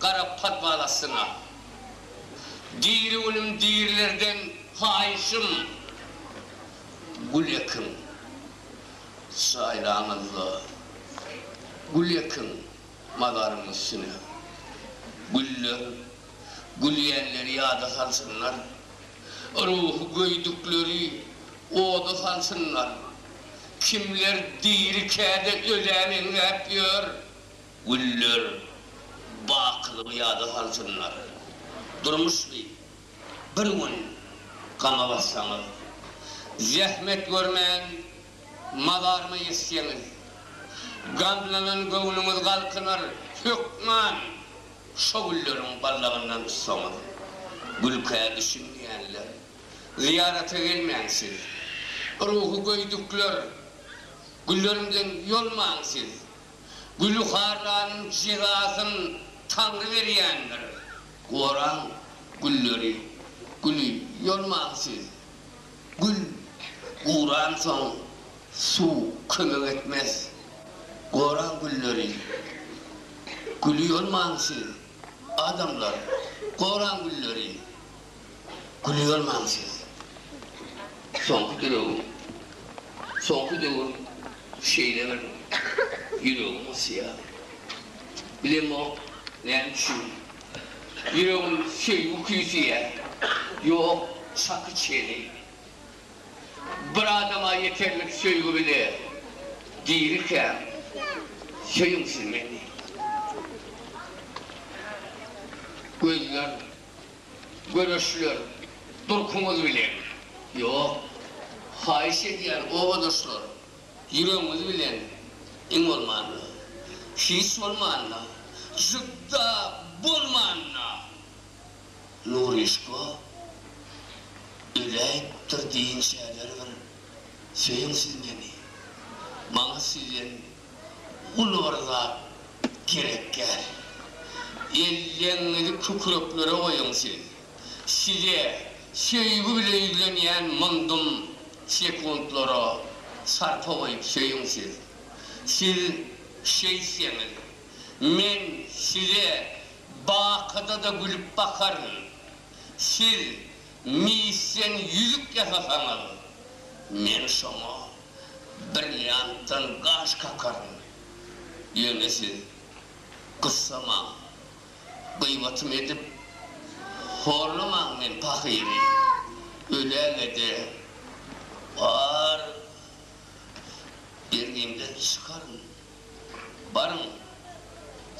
Gara podwal astyna. Diri günüm dirilerden haýyşym, gül ekiň. Çaýlaňyzda gül ekiň mazaryň üstüne. Güller gülýänleri ýada salsynlar. Ruhy göýdükleri oda salsynlar. Kimler diri käde ölä meňzäp ýör. Güller bakylygy ýada salsynlar. Durmuş diýip, bir gün gama batsaňyz. Zähmet görmän, mazaryma ýetseňiz. Gamlanan göwnüňiz galkynar, hökman şo gülleriň ballagyndan tutsaňyz. Gülkä düşünmeýänler, zyýarata gelmäň siz. Ruhy göýdükler, güllerimden ýolmaň siz. Gülüharranyň jezasyn Taňry berýändir. Goraň gülleri, güli ýolmaň siz. Gül guransoň suw kömek etmez. Goraň gülleri, güli ýolmaň siz. Adamlar, goraň gülleri, Gülýärmäň siz. Soňky dilegim. Soňky döwür şeýle bir ýüregim gysýar. Bilemok, näme üçin. Ýüregim söýgi küýseýär. Ýok, şaky çeni. Bir adama ýeterlik söýgi bile. Dirikäm, söýüň siz meni. Gözler. Göreşler durkuňyz bilen. Ýok. Haýyş edýän obadaşlar, ýüregiňiz bilen iň bolmanda. Hiç bolmanda, jübda bolmanda. Nuryşko öläýipdir diýinçäler bir söýeň siz meni. Maňa sizden. Uly bir zat gerek däl. Elleňňizi kükreklere goýuň siz. Size söýgi bilen ýüzlenýän myndum sekuntlara sarpa goýup söýüň siz. Siz şeýtseňiz, men size bakyda-da gülüp bakaryn. Siz misden ýüzük ýasasaňyz, men şoňa Brilliantdan gaş kakaryn. Ýöne siz gyssamaň. Gybatym edip, horlamaň men pahyry. Öläge-de, ar bergimden çykaryn. Baryň,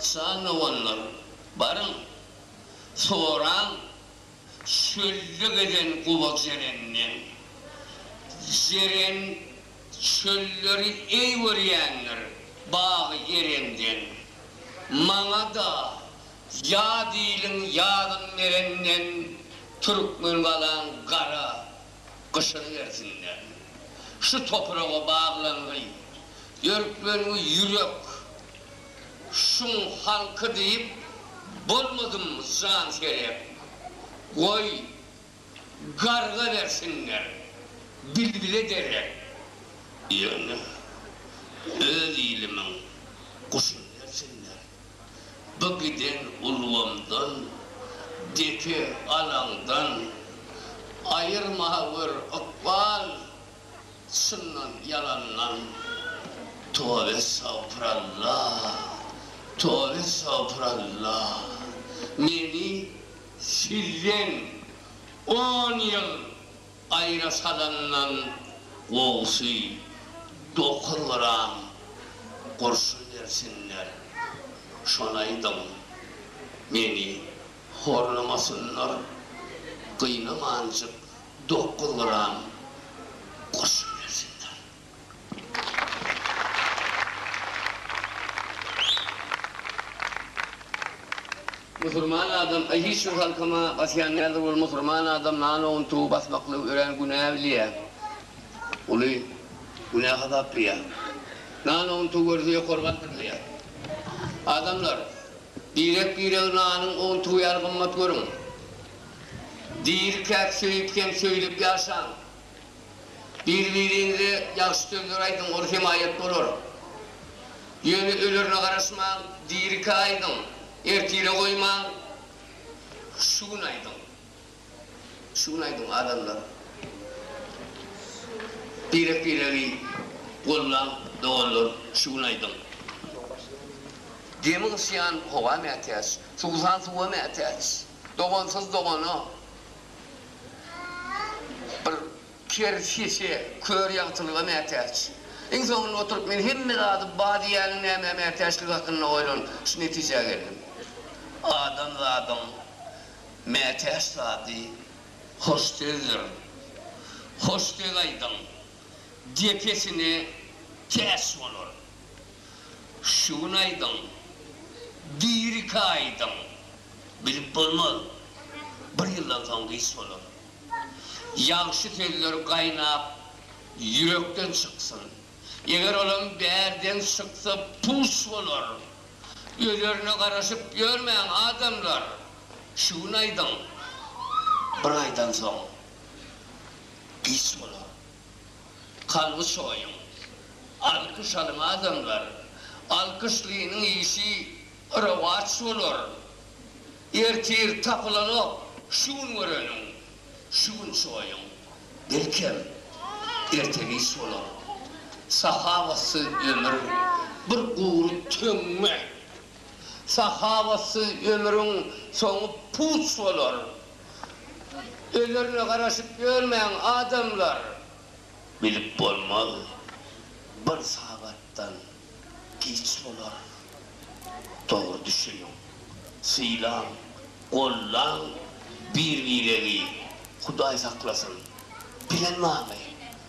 jan doganlar, baryň, soraň Çölde gezen gowa jerenden. Jeren çölleri eý görýändir, bagy Erenden. Maňa-da ýat iliň ýadyn berenden, Türkmen galaň gara, Gyşarybersinler. Şu topraga baglangy, dörklengi ýürek şuň halky diýip bolmadym jan serep. Goý, garga bersinler, bilbile derek. Ýöne öz ilimiň guşuny bersinler. Bu giden ulgamdan, depe alaňdan Aýyrma gör ykbal çyndan ýalandan Toba estagpyralla, toba estagpyralla Meni sizden on ýyl Aýra salandan gowusy, dokuz gram gurşun bersinler, şonaýdyň, meni horlamasynlar, gynamanjyk dokuz gram gurşun bersinler. Musurman adam a hiç bir halkama basýan däldir ol musurman adam nalogyn tugy basmaklygy örän günä bilýä uly günä hasaplaýa nalogyn tugy görse ýokary galdyrylýa adamlar birek biregi nalyň ogyn tugy ýaly gymmat görüň dirikäk söýüp hem söýlüp ýaşaň Bir-biriňize ýagşy sözler aýdyň, ol hemaýat bolar. Ýöne ölerine garaşmaň, dirikä aýdyň, ertire goýmaň, şu gün aýdyň. Şu gün aýdyň, adamlar. Birek-biregi gollaň, doganlar, şu gün aýdyň. Demi gysýan howa mätäç, suwsan suwa mätäç. Dogansyz dogana. Bir ker sese, kör ýagtylyga mätäç. Iň soňunda oturyp men hemme zady bar diýýäniň nämä mätäçligi hakynda oýlanyp, şu netijä geldim. Adamzadyň mätäç zady hoş sözdür. Hoş söz aýdyň, depesine täç bolar. Şu gün aýdyň, biriki aýdyň, bilip bolmaz, bir ýyldan soň giç bolar. Ýagşy sözler gaýnap, ýürekden çyksyn. Eger olam bärden çyksa, puç bolar. Özerine garaşyp ýörmäň, adamlar! Şu gün aýdyň, bir aýdan soň giç bolar. Kalby çoýuň. Alkyş alyň adamlar. Alkyşlynyň işi rowaç bolar. Ertir tapylanok şu gün göreniň. Şu gün çoýuň. Belkem, erte giç bolar. Sahawatsyz ömür bir gury töňňe. Sahawatsyz ömrüň soňy puç bolar. Özlerine garaşyp ýörmäň adamlar. Bilip bolmaz bir sagatdan giç bolar dogry düşüniň sylaň gollaň bir biregi hudaý saklasyn bilen many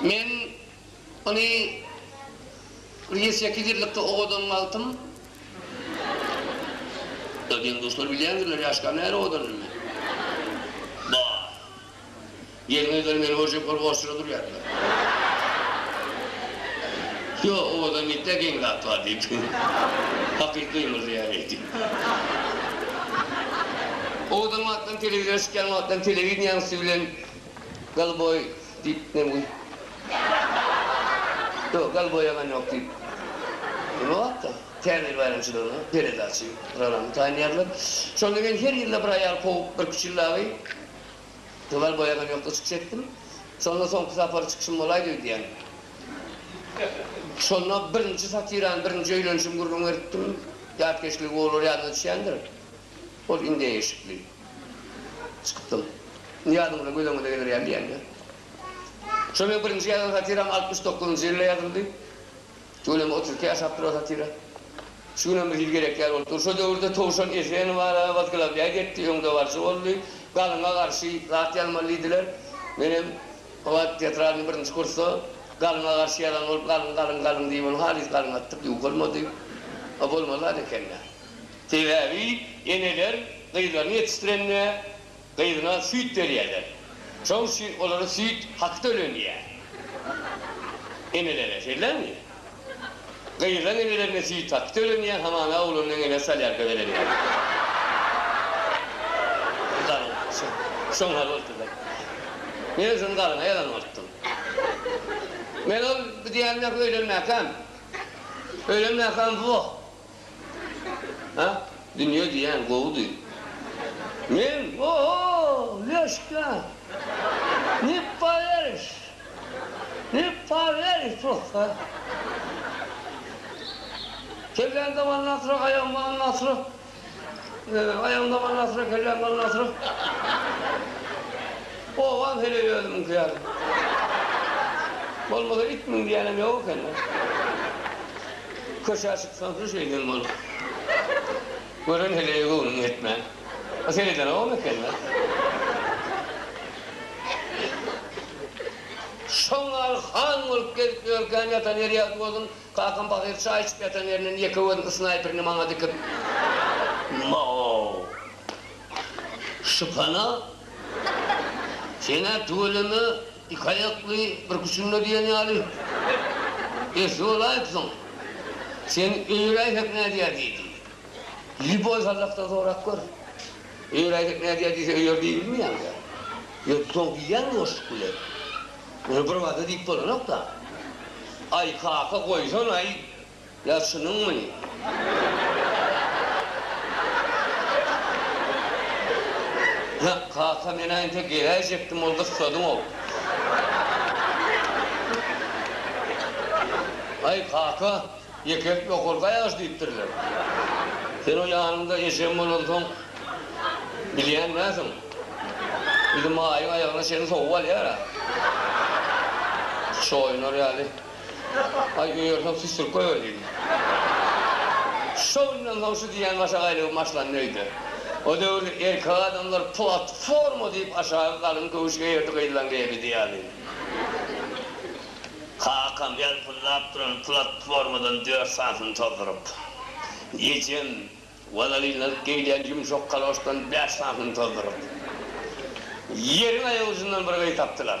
Men ony bir ýedi sekiz ýyllykda owadan wagtym. Ýa diýen duşlar bilýändirler ýaşka näre owadan bilme. Bar. Gelin-gyzlar meni görjek bolup orçura durýardylar. Ýok, owadan diýip-de geň zat bar diýip. Hakyky gymyldaýar eýdip. Owadan wagtlaň telewizora çykýan wagtlaň telewideniýaň üsti bilen Goluboi diýip nem guý. Ýok, Goluboi ýalan ýok diýip. Ol wagtda Täze baýramçylygyna peredaçy, programma taýynlaýarlar. Şonda men her ýylda bir aýal kowup, bir kiçil dagy. Tuwal boýagam ýokdy çykyş etdim. Şonda soňky sapar çykyşym bolaýdy öýdýän. Şonda birinji satirany birinji öýlenişim gürrüň beripdim. Ýatkeşligi olar ýadyna düşýändir. Ol indem eşikli. Çykypdym. Indi ýadyňyza göz öňüňize geler ýaly diýýän-dä. Şol meň birinji ýazan satiram altmyş dokuzynjy ýylda ýazyldy. Şu günem oturykda ýaşap durar satyra. Şu günem bir hili gerek ýaly bolup dur. Şo döwürde Towşan Eseýew bar-a, wazglawnýaý depdi, öňdebaryjy boldy. Galyňa garşy zat ýazmaly diýdiler. Menem o wagt teatralnyý birinji kursda Galyňa garşy ýazan bolup, Galyň, galyň, galyň diýip, ony halys galyň atdyk, ýuwuk bolmady. A bolmaly zat eken-dä. Sebäbi eneler gyzlaryny ýetişdirende gyzyna süýt berýärler. Şoň üçin olara süýt haky tölenýär. Enelere, şeýlemi? Gyzlaň enelerine süýt haky tölenýär, hamana oglanyň eneleri solýarka berenýär. Galyň, şoň hal bolupdyr-da. Menem şony galyňa ýazan bolupdym. Men ol diýýänini-ä öýlenmäkäm. Öýlenmäkäm, wah! A, dünýe diýýän gowudy. Men, O-ho, Lýoşka! Ne poweriş! Ne poweriş prosta! Kellän daban nasra, aýagyň daban nasra, aýagyň daban nasra, kelläň daban nasra. Obam heleý özümiňki ýaly. Bolmasa it müň diýýänem ýok eken-le. Köşä çyksaň-da şeýden bol. Gören heleýe göwnüň ýetmän. Bu seredenogam eken-dä. Şoň ýaly han bolup gezip ýörkäň, ýatan ýeri ýagty bolsun, kakam pahyr çaý içip ýatan ýerinden ýeke gözüniň snaýperini maňa dikip, Maw! Şypana! Sen-ä tüweleme! Iki aýakly, bir küçünde diýen ýaly. Eşli bolaýypsyň. Sen Öýräýsek nädýär diýdi. Lýuboý Sazakdan sorap gör. Öýräýsek nädýär diýse öýer diýbilmeýäňdä. Ýöne soň diýýäňmi boşluk bilen? Muny birbada diýip bolanok-da. Aý, kaka, goýsana-aý! Ýa şunuňmy? Ýa, kaka, men-ä entek geläýjekdim, ol gyssadyň-ow. Aý, kaka, ýeke ýokarky aýagyş diýipdirler. Sen o ýanyňda ejem bolansoň, bilýän dälsiň. Biziň Maýyň aýagyna çenli sowup alýar-a. Çoýunar ýaly. Aý öýersen süsdürip goýber diýdi. Şo günden soň şu diýýän başak aýlawy başlandy öýde. O döwürde erkek adamlar platforma diýip aşagy galyň köwüş geýerdi gyzlaň geýemidi ýaly. Kakam ýalpyldap duran platformadan dört sanysyny tozduryp. Ejem walalinlanyp geýilýän ýumşak kaloşdan bäş sanysyny tozduryp. Ýeriň aýagujundan bir gyz tapdylar.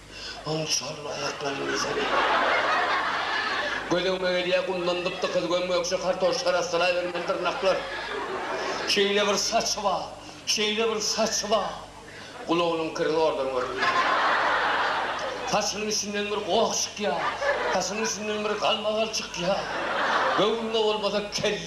Onuň çorba aýaklary ýöresene. Gözegime gelýär, gumdan gyp-gykyz göm-gökje kartoşka arassalaybermeli dyrnaklar. Şeýle bir saçy bar, şeýle bir saçy bar. Gulagynyň kiri zordan görünýär. Saçynyň içinden bir goh çykýar, saçynyň içinden bir galmagal çykýar. Göwnüne bolmasa, kelle.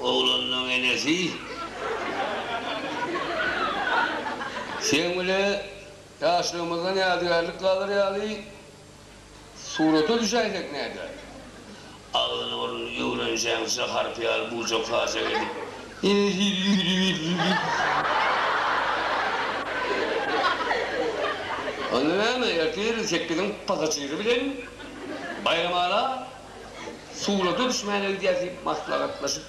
Oglunyň enesi Seň bile ýaşlygymyzdan ýadygärlik galar ýaly surata düşäýsek näder? Agzyny-burnuny öwrenjeňçä harpy ýaly buja-kaja edip, ýene sizi ýüwüdiberdi. Onda näme, ertir sekiziň pasažiri bilen Baýramaga Surata düşmäge gidýäs diýip maslahatlaşyp.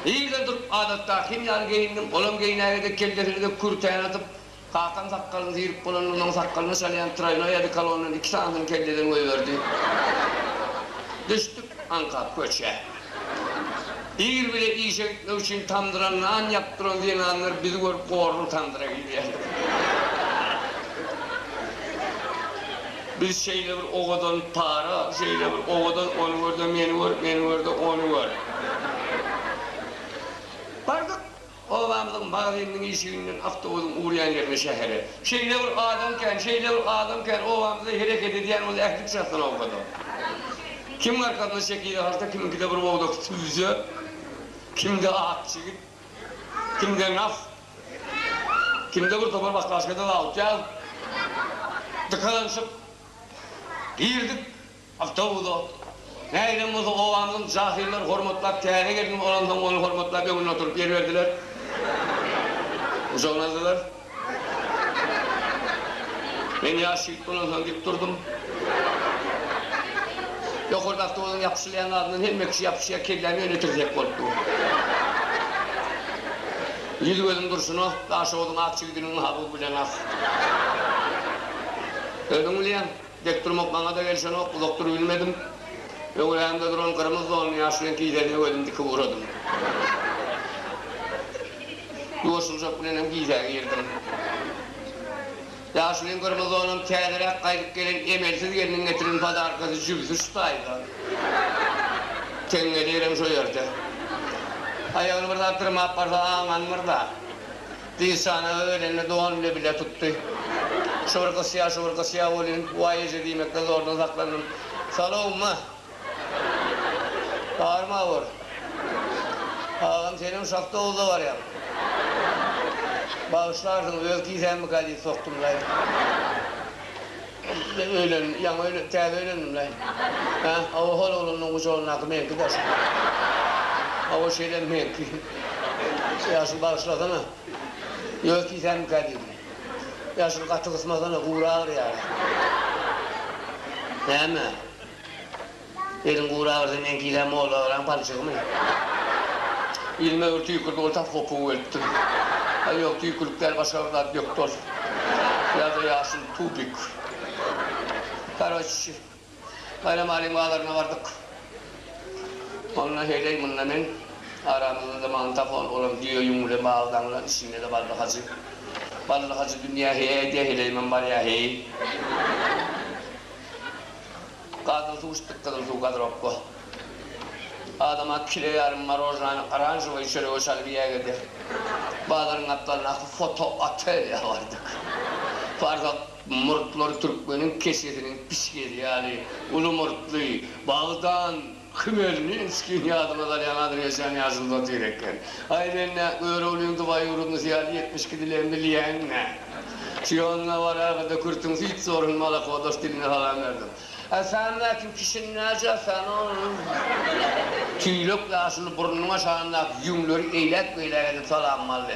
Irden turup adatdakym ýaly geýindim. Olam geýnäge dek kellesini dek kürtäni atyp, kakam sakgalyny syryp bolanda onuň sakgalyna çalýan traýnoý odikolondan iki sanysyny kelleden goýberdi. Düşdük. Aňkap köçä. Ir bile işe gitmek üçin tamdyra nan ýapyp duran zenanlar bizi görüp gorlup tamdyra girýärdi. Biz şeýle bir owadan para, şeýle bir owadan ony gör-de meni gör, meni gör-de ony gör. Bardyk. Obamyzyň magazyniniň işiginden awtobusyň urýan ýerine şähere şeýle bir adam kän, şeýle bir adam kän, obamyzda hereket edýän bolsa ähli çatdan owadan. Kimiň arkasyna şekili harta, kimiňkide bir bogdak sübze, kimde ak çigit, kimde nas, kimde bir topar baklaşkada zawut ýag. Dykalanyşyp girdik. Awtobusa, nägilem bolsa, obamyzyň jahyllar hormatlap, täze gelniň olansoň ony hormatlap öňünde oturyp ýer berdiler. Gujagyna aldylar. Men ýaş ýigit bolansoň dik durdum. Ýokarda awtobusyň ýapyşylýan zadyndan hemme kişi ýapyşýar, kelläm ýöne tirsek bolup dur. Ýüz-gözüm durşuna, Daşoguzyň ak jigidiniň haby bilen ak. Özüň bilýäň. Dek durmak maňa-da gelişenok, uzak durubilmedim. Öňrämde duran gyrmyz donly ýaş reňk gijäni öwedim, dikip ugradym. Ýuwaşyljak bilen hem gijä girdim. Ýaşulyň gyrmyz donam täzeräk gaýdyp gelen emelsiz gelniň getiren podarkasy jübüsi şu taýda. Teňňeli elem şo ýerde. Aýagyny bir zat dyrmap barsa aňanmyr-da. Dişanaga gelende dogan bile bile tutdy. Şu bir gysýa, şu bir gysýa bolýun. Waý eje diýmekden zordan saklandym. Salowma! Barma bor. Agam senem şahta owuza barýaň. Bagyşlarsyňyz öz kisämmikä diýip sokdumlaý. Öýlendim, ýaňy öýlendim, täze öýlendim-le. Hä? Hawa, hol oglanlaryň gujagyndaky meňki daş. Hawa, şeýle meňki. Ýaşuly bagyşlasana. Ýöz tiýsänmikä diýdim. Ýaşuly gaty gysmasana, gury agyrýar-a. Näme? Eliň gurabersin meňkilä molla agram palçygymy. Ilime bir tüýkürdi ol tas gopugy welipdir. Aý ýok tüýkülik däl başga bir zat dökdi ol. Ýa-da ýaşyl tubik. Karoçi Baýram Alim bazaryna bardyk. Onda heýleý munda men aramyzda-da magnitofon olam düýe ýüň bilen bagly daňylan içinde-de Bally Hajy. Bally Hajy dünýä heý aýdýa heleýimem barýa heý. Gazyl suw içdik gyzyl suw gazropka. Adama kile ýarym morojnany oranžowyý çörege çalyp iýäge de. Bazaryň gapdalyndaky foto otelýa bardyk. Farhad murtlary türkmeniň keçesiniň pişgeli ýaly uly murtly, bagdan. Hmelninskiň ýadyňa salýan azerbaýjan ýaşulusy otyr eken. Aý men nä, Göroglyň Dubaý ýurdundysy ýaly ýetmiş iki dilem bilýäň nä? Sýonna baragada kürtüň süýt zorun malakodos diline salam berdim. Ä sen mäkim kişiň näce sen oň? Tüýlek ýaşuly burnunyň aşagyndaky ýüňleri eýläk-beýläk edip salamym aldy.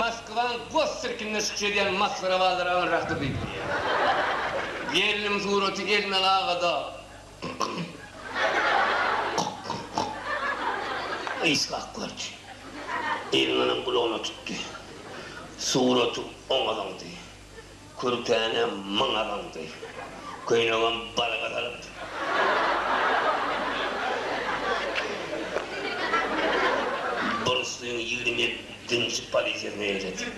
Moskwaň gossirkinde çykyş edýän masgarabazlar aňyr rahatdyr diýip bilýär. Gelnim suraty Elmel agada ysgak gördi. Elmelem gulagyna tutdy. Suraty oňa zyňdy. Kürtäne maňa baňdy. Köýnegem balyga salyndy. Burnswing ýigrimi ýedinji polisiýasyna eýledi.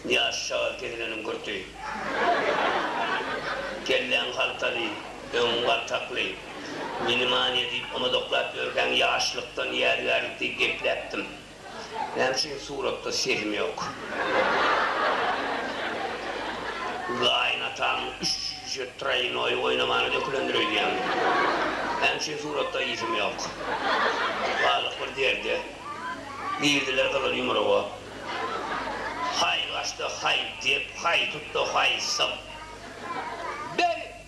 Ýaş şagal kesileniň kürti. Kelläň haltaly, öňüň galtakly. Mini-mania diýip, omadoklap ýörkäň, ýaşlykdan ýadygärlik diýip gepläpdim. Näme üçin suratda Selim ýok? Gaýynataň üç jüýje traýnoý oýnamany dökülendir öýdýän. Näme üçin suratda Ism ýok? Galdyk bir derde. Girdiler gyzyl ýumruga. Haý gaçdy, haý dep, haý tutdy, haý syp. Berit!